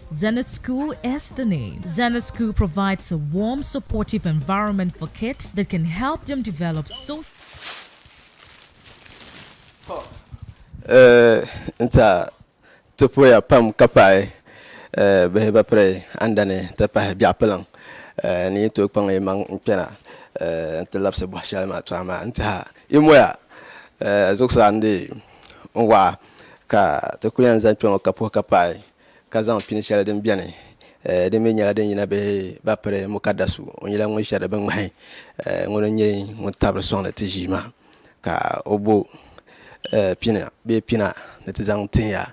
Zenith School is the name. Zenith School provides a warm, supportive environment for kids that can help them develop so. Eh, nta ti poya pam ka paai eh, bihi ba piri andani ti pahi biɛɣu piliŋ eh, ni yi tooi kpaŋ yi maŋ n kpɛna eh, n ti labisi bɔhi shɛli maa tɔha maa n tiha yi moya eh, zuɣusaa n di n waɣa ka ti kuli yɛn zaŋ kpɛŋɔ ka puhi ka paai ka zaŋ pini shɛli din bɛni din mi nyɛla din yina bihi ba piri mukaddasu o nyɛla ŋun shɛri bi ŋmahi ŋuni n nyɛ ŋun tabiri sɔŋdi ti ʒii maa ka o bo pini bee pina ni ti zaŋ tihi ya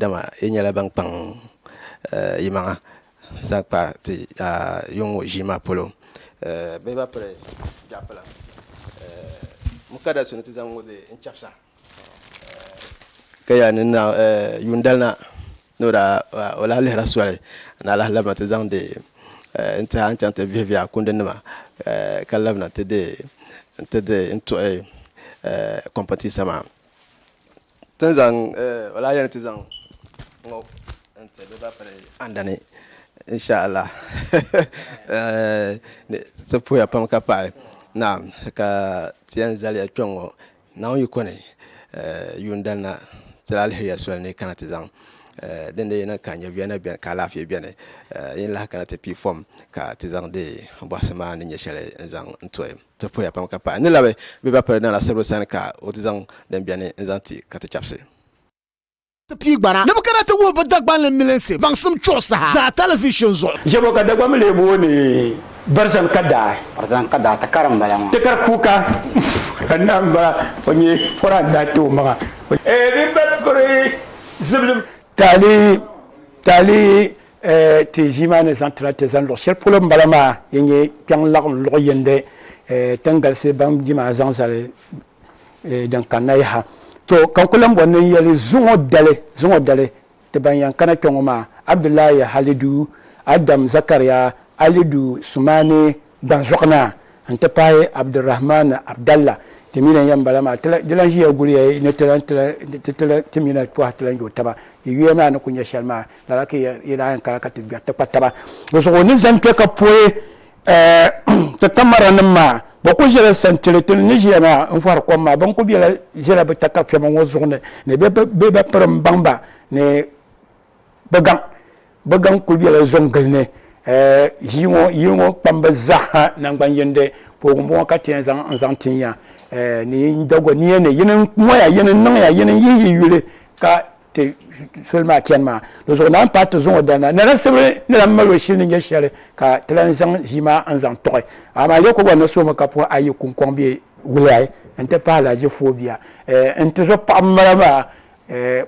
dama yi nyɛla ban kpaŋ yi maŋa zaŋ kpa ti yuŋ ŋɔ ʒii maa polo bihi ba piri jaapilam mukaddasu ni ti zaŋ ŋɔ bee n chɛbisa ka yaa ni na yuun dali na ni o daa o lahi lihira soli n daa lahi labina ti zaŋdi n tihi a ni chaŋ ti vihi vihi a kundi nima ka labina ti di n tuhi kompitisa maa o lahi yɛli ni ti zaŋ ŋɔ n ti bɛ ban piri andani insha Allah ti puhiya pam ka paɣi naam ka ti yɛn zaliya kpɛŋŋɔ Naawuni yi kɔni yuun dali na ti la alihiriya soli ni yi kana ti zaŋ dindin yi niŋ ka nyɛviya na beni ka alaafee beni yi ni lahi kana ti pii fɔm ka ti zaŋdi bɔhisi maa ni nyɛ shɛli n-zaŋ to ti poya pam ka pahi n ni labi bɛ ba piri na la siribili sani ka o ti zaŋ din beni n-zaŋ ti ka ti chabisi. ti piigbana ni bɛ kana ti wuhi bɛ Dagbanli milinsi baŋsim chuɣu saha zaa talivizhin zuɣu. Jɛbo ka Dagbanmi lee booni Barzan Kadaa. Barzan Kadaa tikari m-bala maa. Tikari kuuka ka naai m-bala, o nyɛ pɔra n-daa ti o maŋa. Eeh di ba piri ziblim. Taali taali eh ti ʒii maa ni zaŋ ti na ti zani luɣ shɛli polo m-bala maa, din nyɛ kpiɔŋ laɣim luɣ yindi eh ti ni galisi baŋ di maa zaŋ zali. eh, din kanna yaha to ka n ku lan bɔri ni n yɛli zuŋɔ dali zuŋɔ dali ti ban yɛn kana kpɛ ŋɔ maa Abdullahi Halidu, Adam Zakariya Alidu Sumani Gbanzuɣunaa n-ti pahi Abdurahman Abdalla ti mi lan yɛn bala maa di lan ʒiya guliya ni ti lan ti ti lan ti mi na pɔha ti lan yo taba yi yuya maa ni ku nyɛ shɛli maa lala ka yi daa yɛn kana ka ti gbɛri ti kpa taba di zuɣu ni zani kpɛ ka poi Ti kamara nim maa bɛ kuli ʒela santili ti ni ʒiya maa n fɔri kom maa bɛ kuli bela ʒela bɛ takafema ŋɔ zuɣu ni ni bɛ bi piri m baŋ ba ni bɛ gaŋ bɛ gaŋ kuli bela zɔn gili ni ʒii ŋɔ yili ŋɔ kpamba zaa ha nangban yindi poogi m bɔŋɔ ka ti yɛn zaŋ n zaŋ tin ya ni yi Dagoniya ni yini moya yini niŋya yini yihi yi yuli ka ti soli maa chani maa di zuɣu naan paai ti zaŋ o dalina Nana Sibiri ni lan mali o shili ni nyɛ shɛli ka ti lan zaŋ ʒii maa n-zaŋ tuɣi amaa Yakuba ni suhimi ka puhi ayi kuŋkɔŋ bɛ Wulai n-ti pahi Laji Foo bia n ti zo paɣ m-mali maa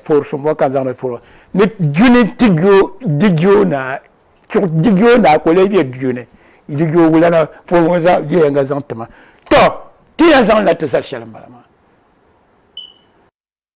poori suŋ bɔ ka n zaŋ di polo ni duni ti jo Dijo Naa chuɣu Dijo Naa ka o lee be Dijo ni Dijo Wulana polo ŋɔ zaa viɛyɛŋga zaŋ ti ma tɔ ti yɛn zaŋ li na ti zali shɛli m-bala maa.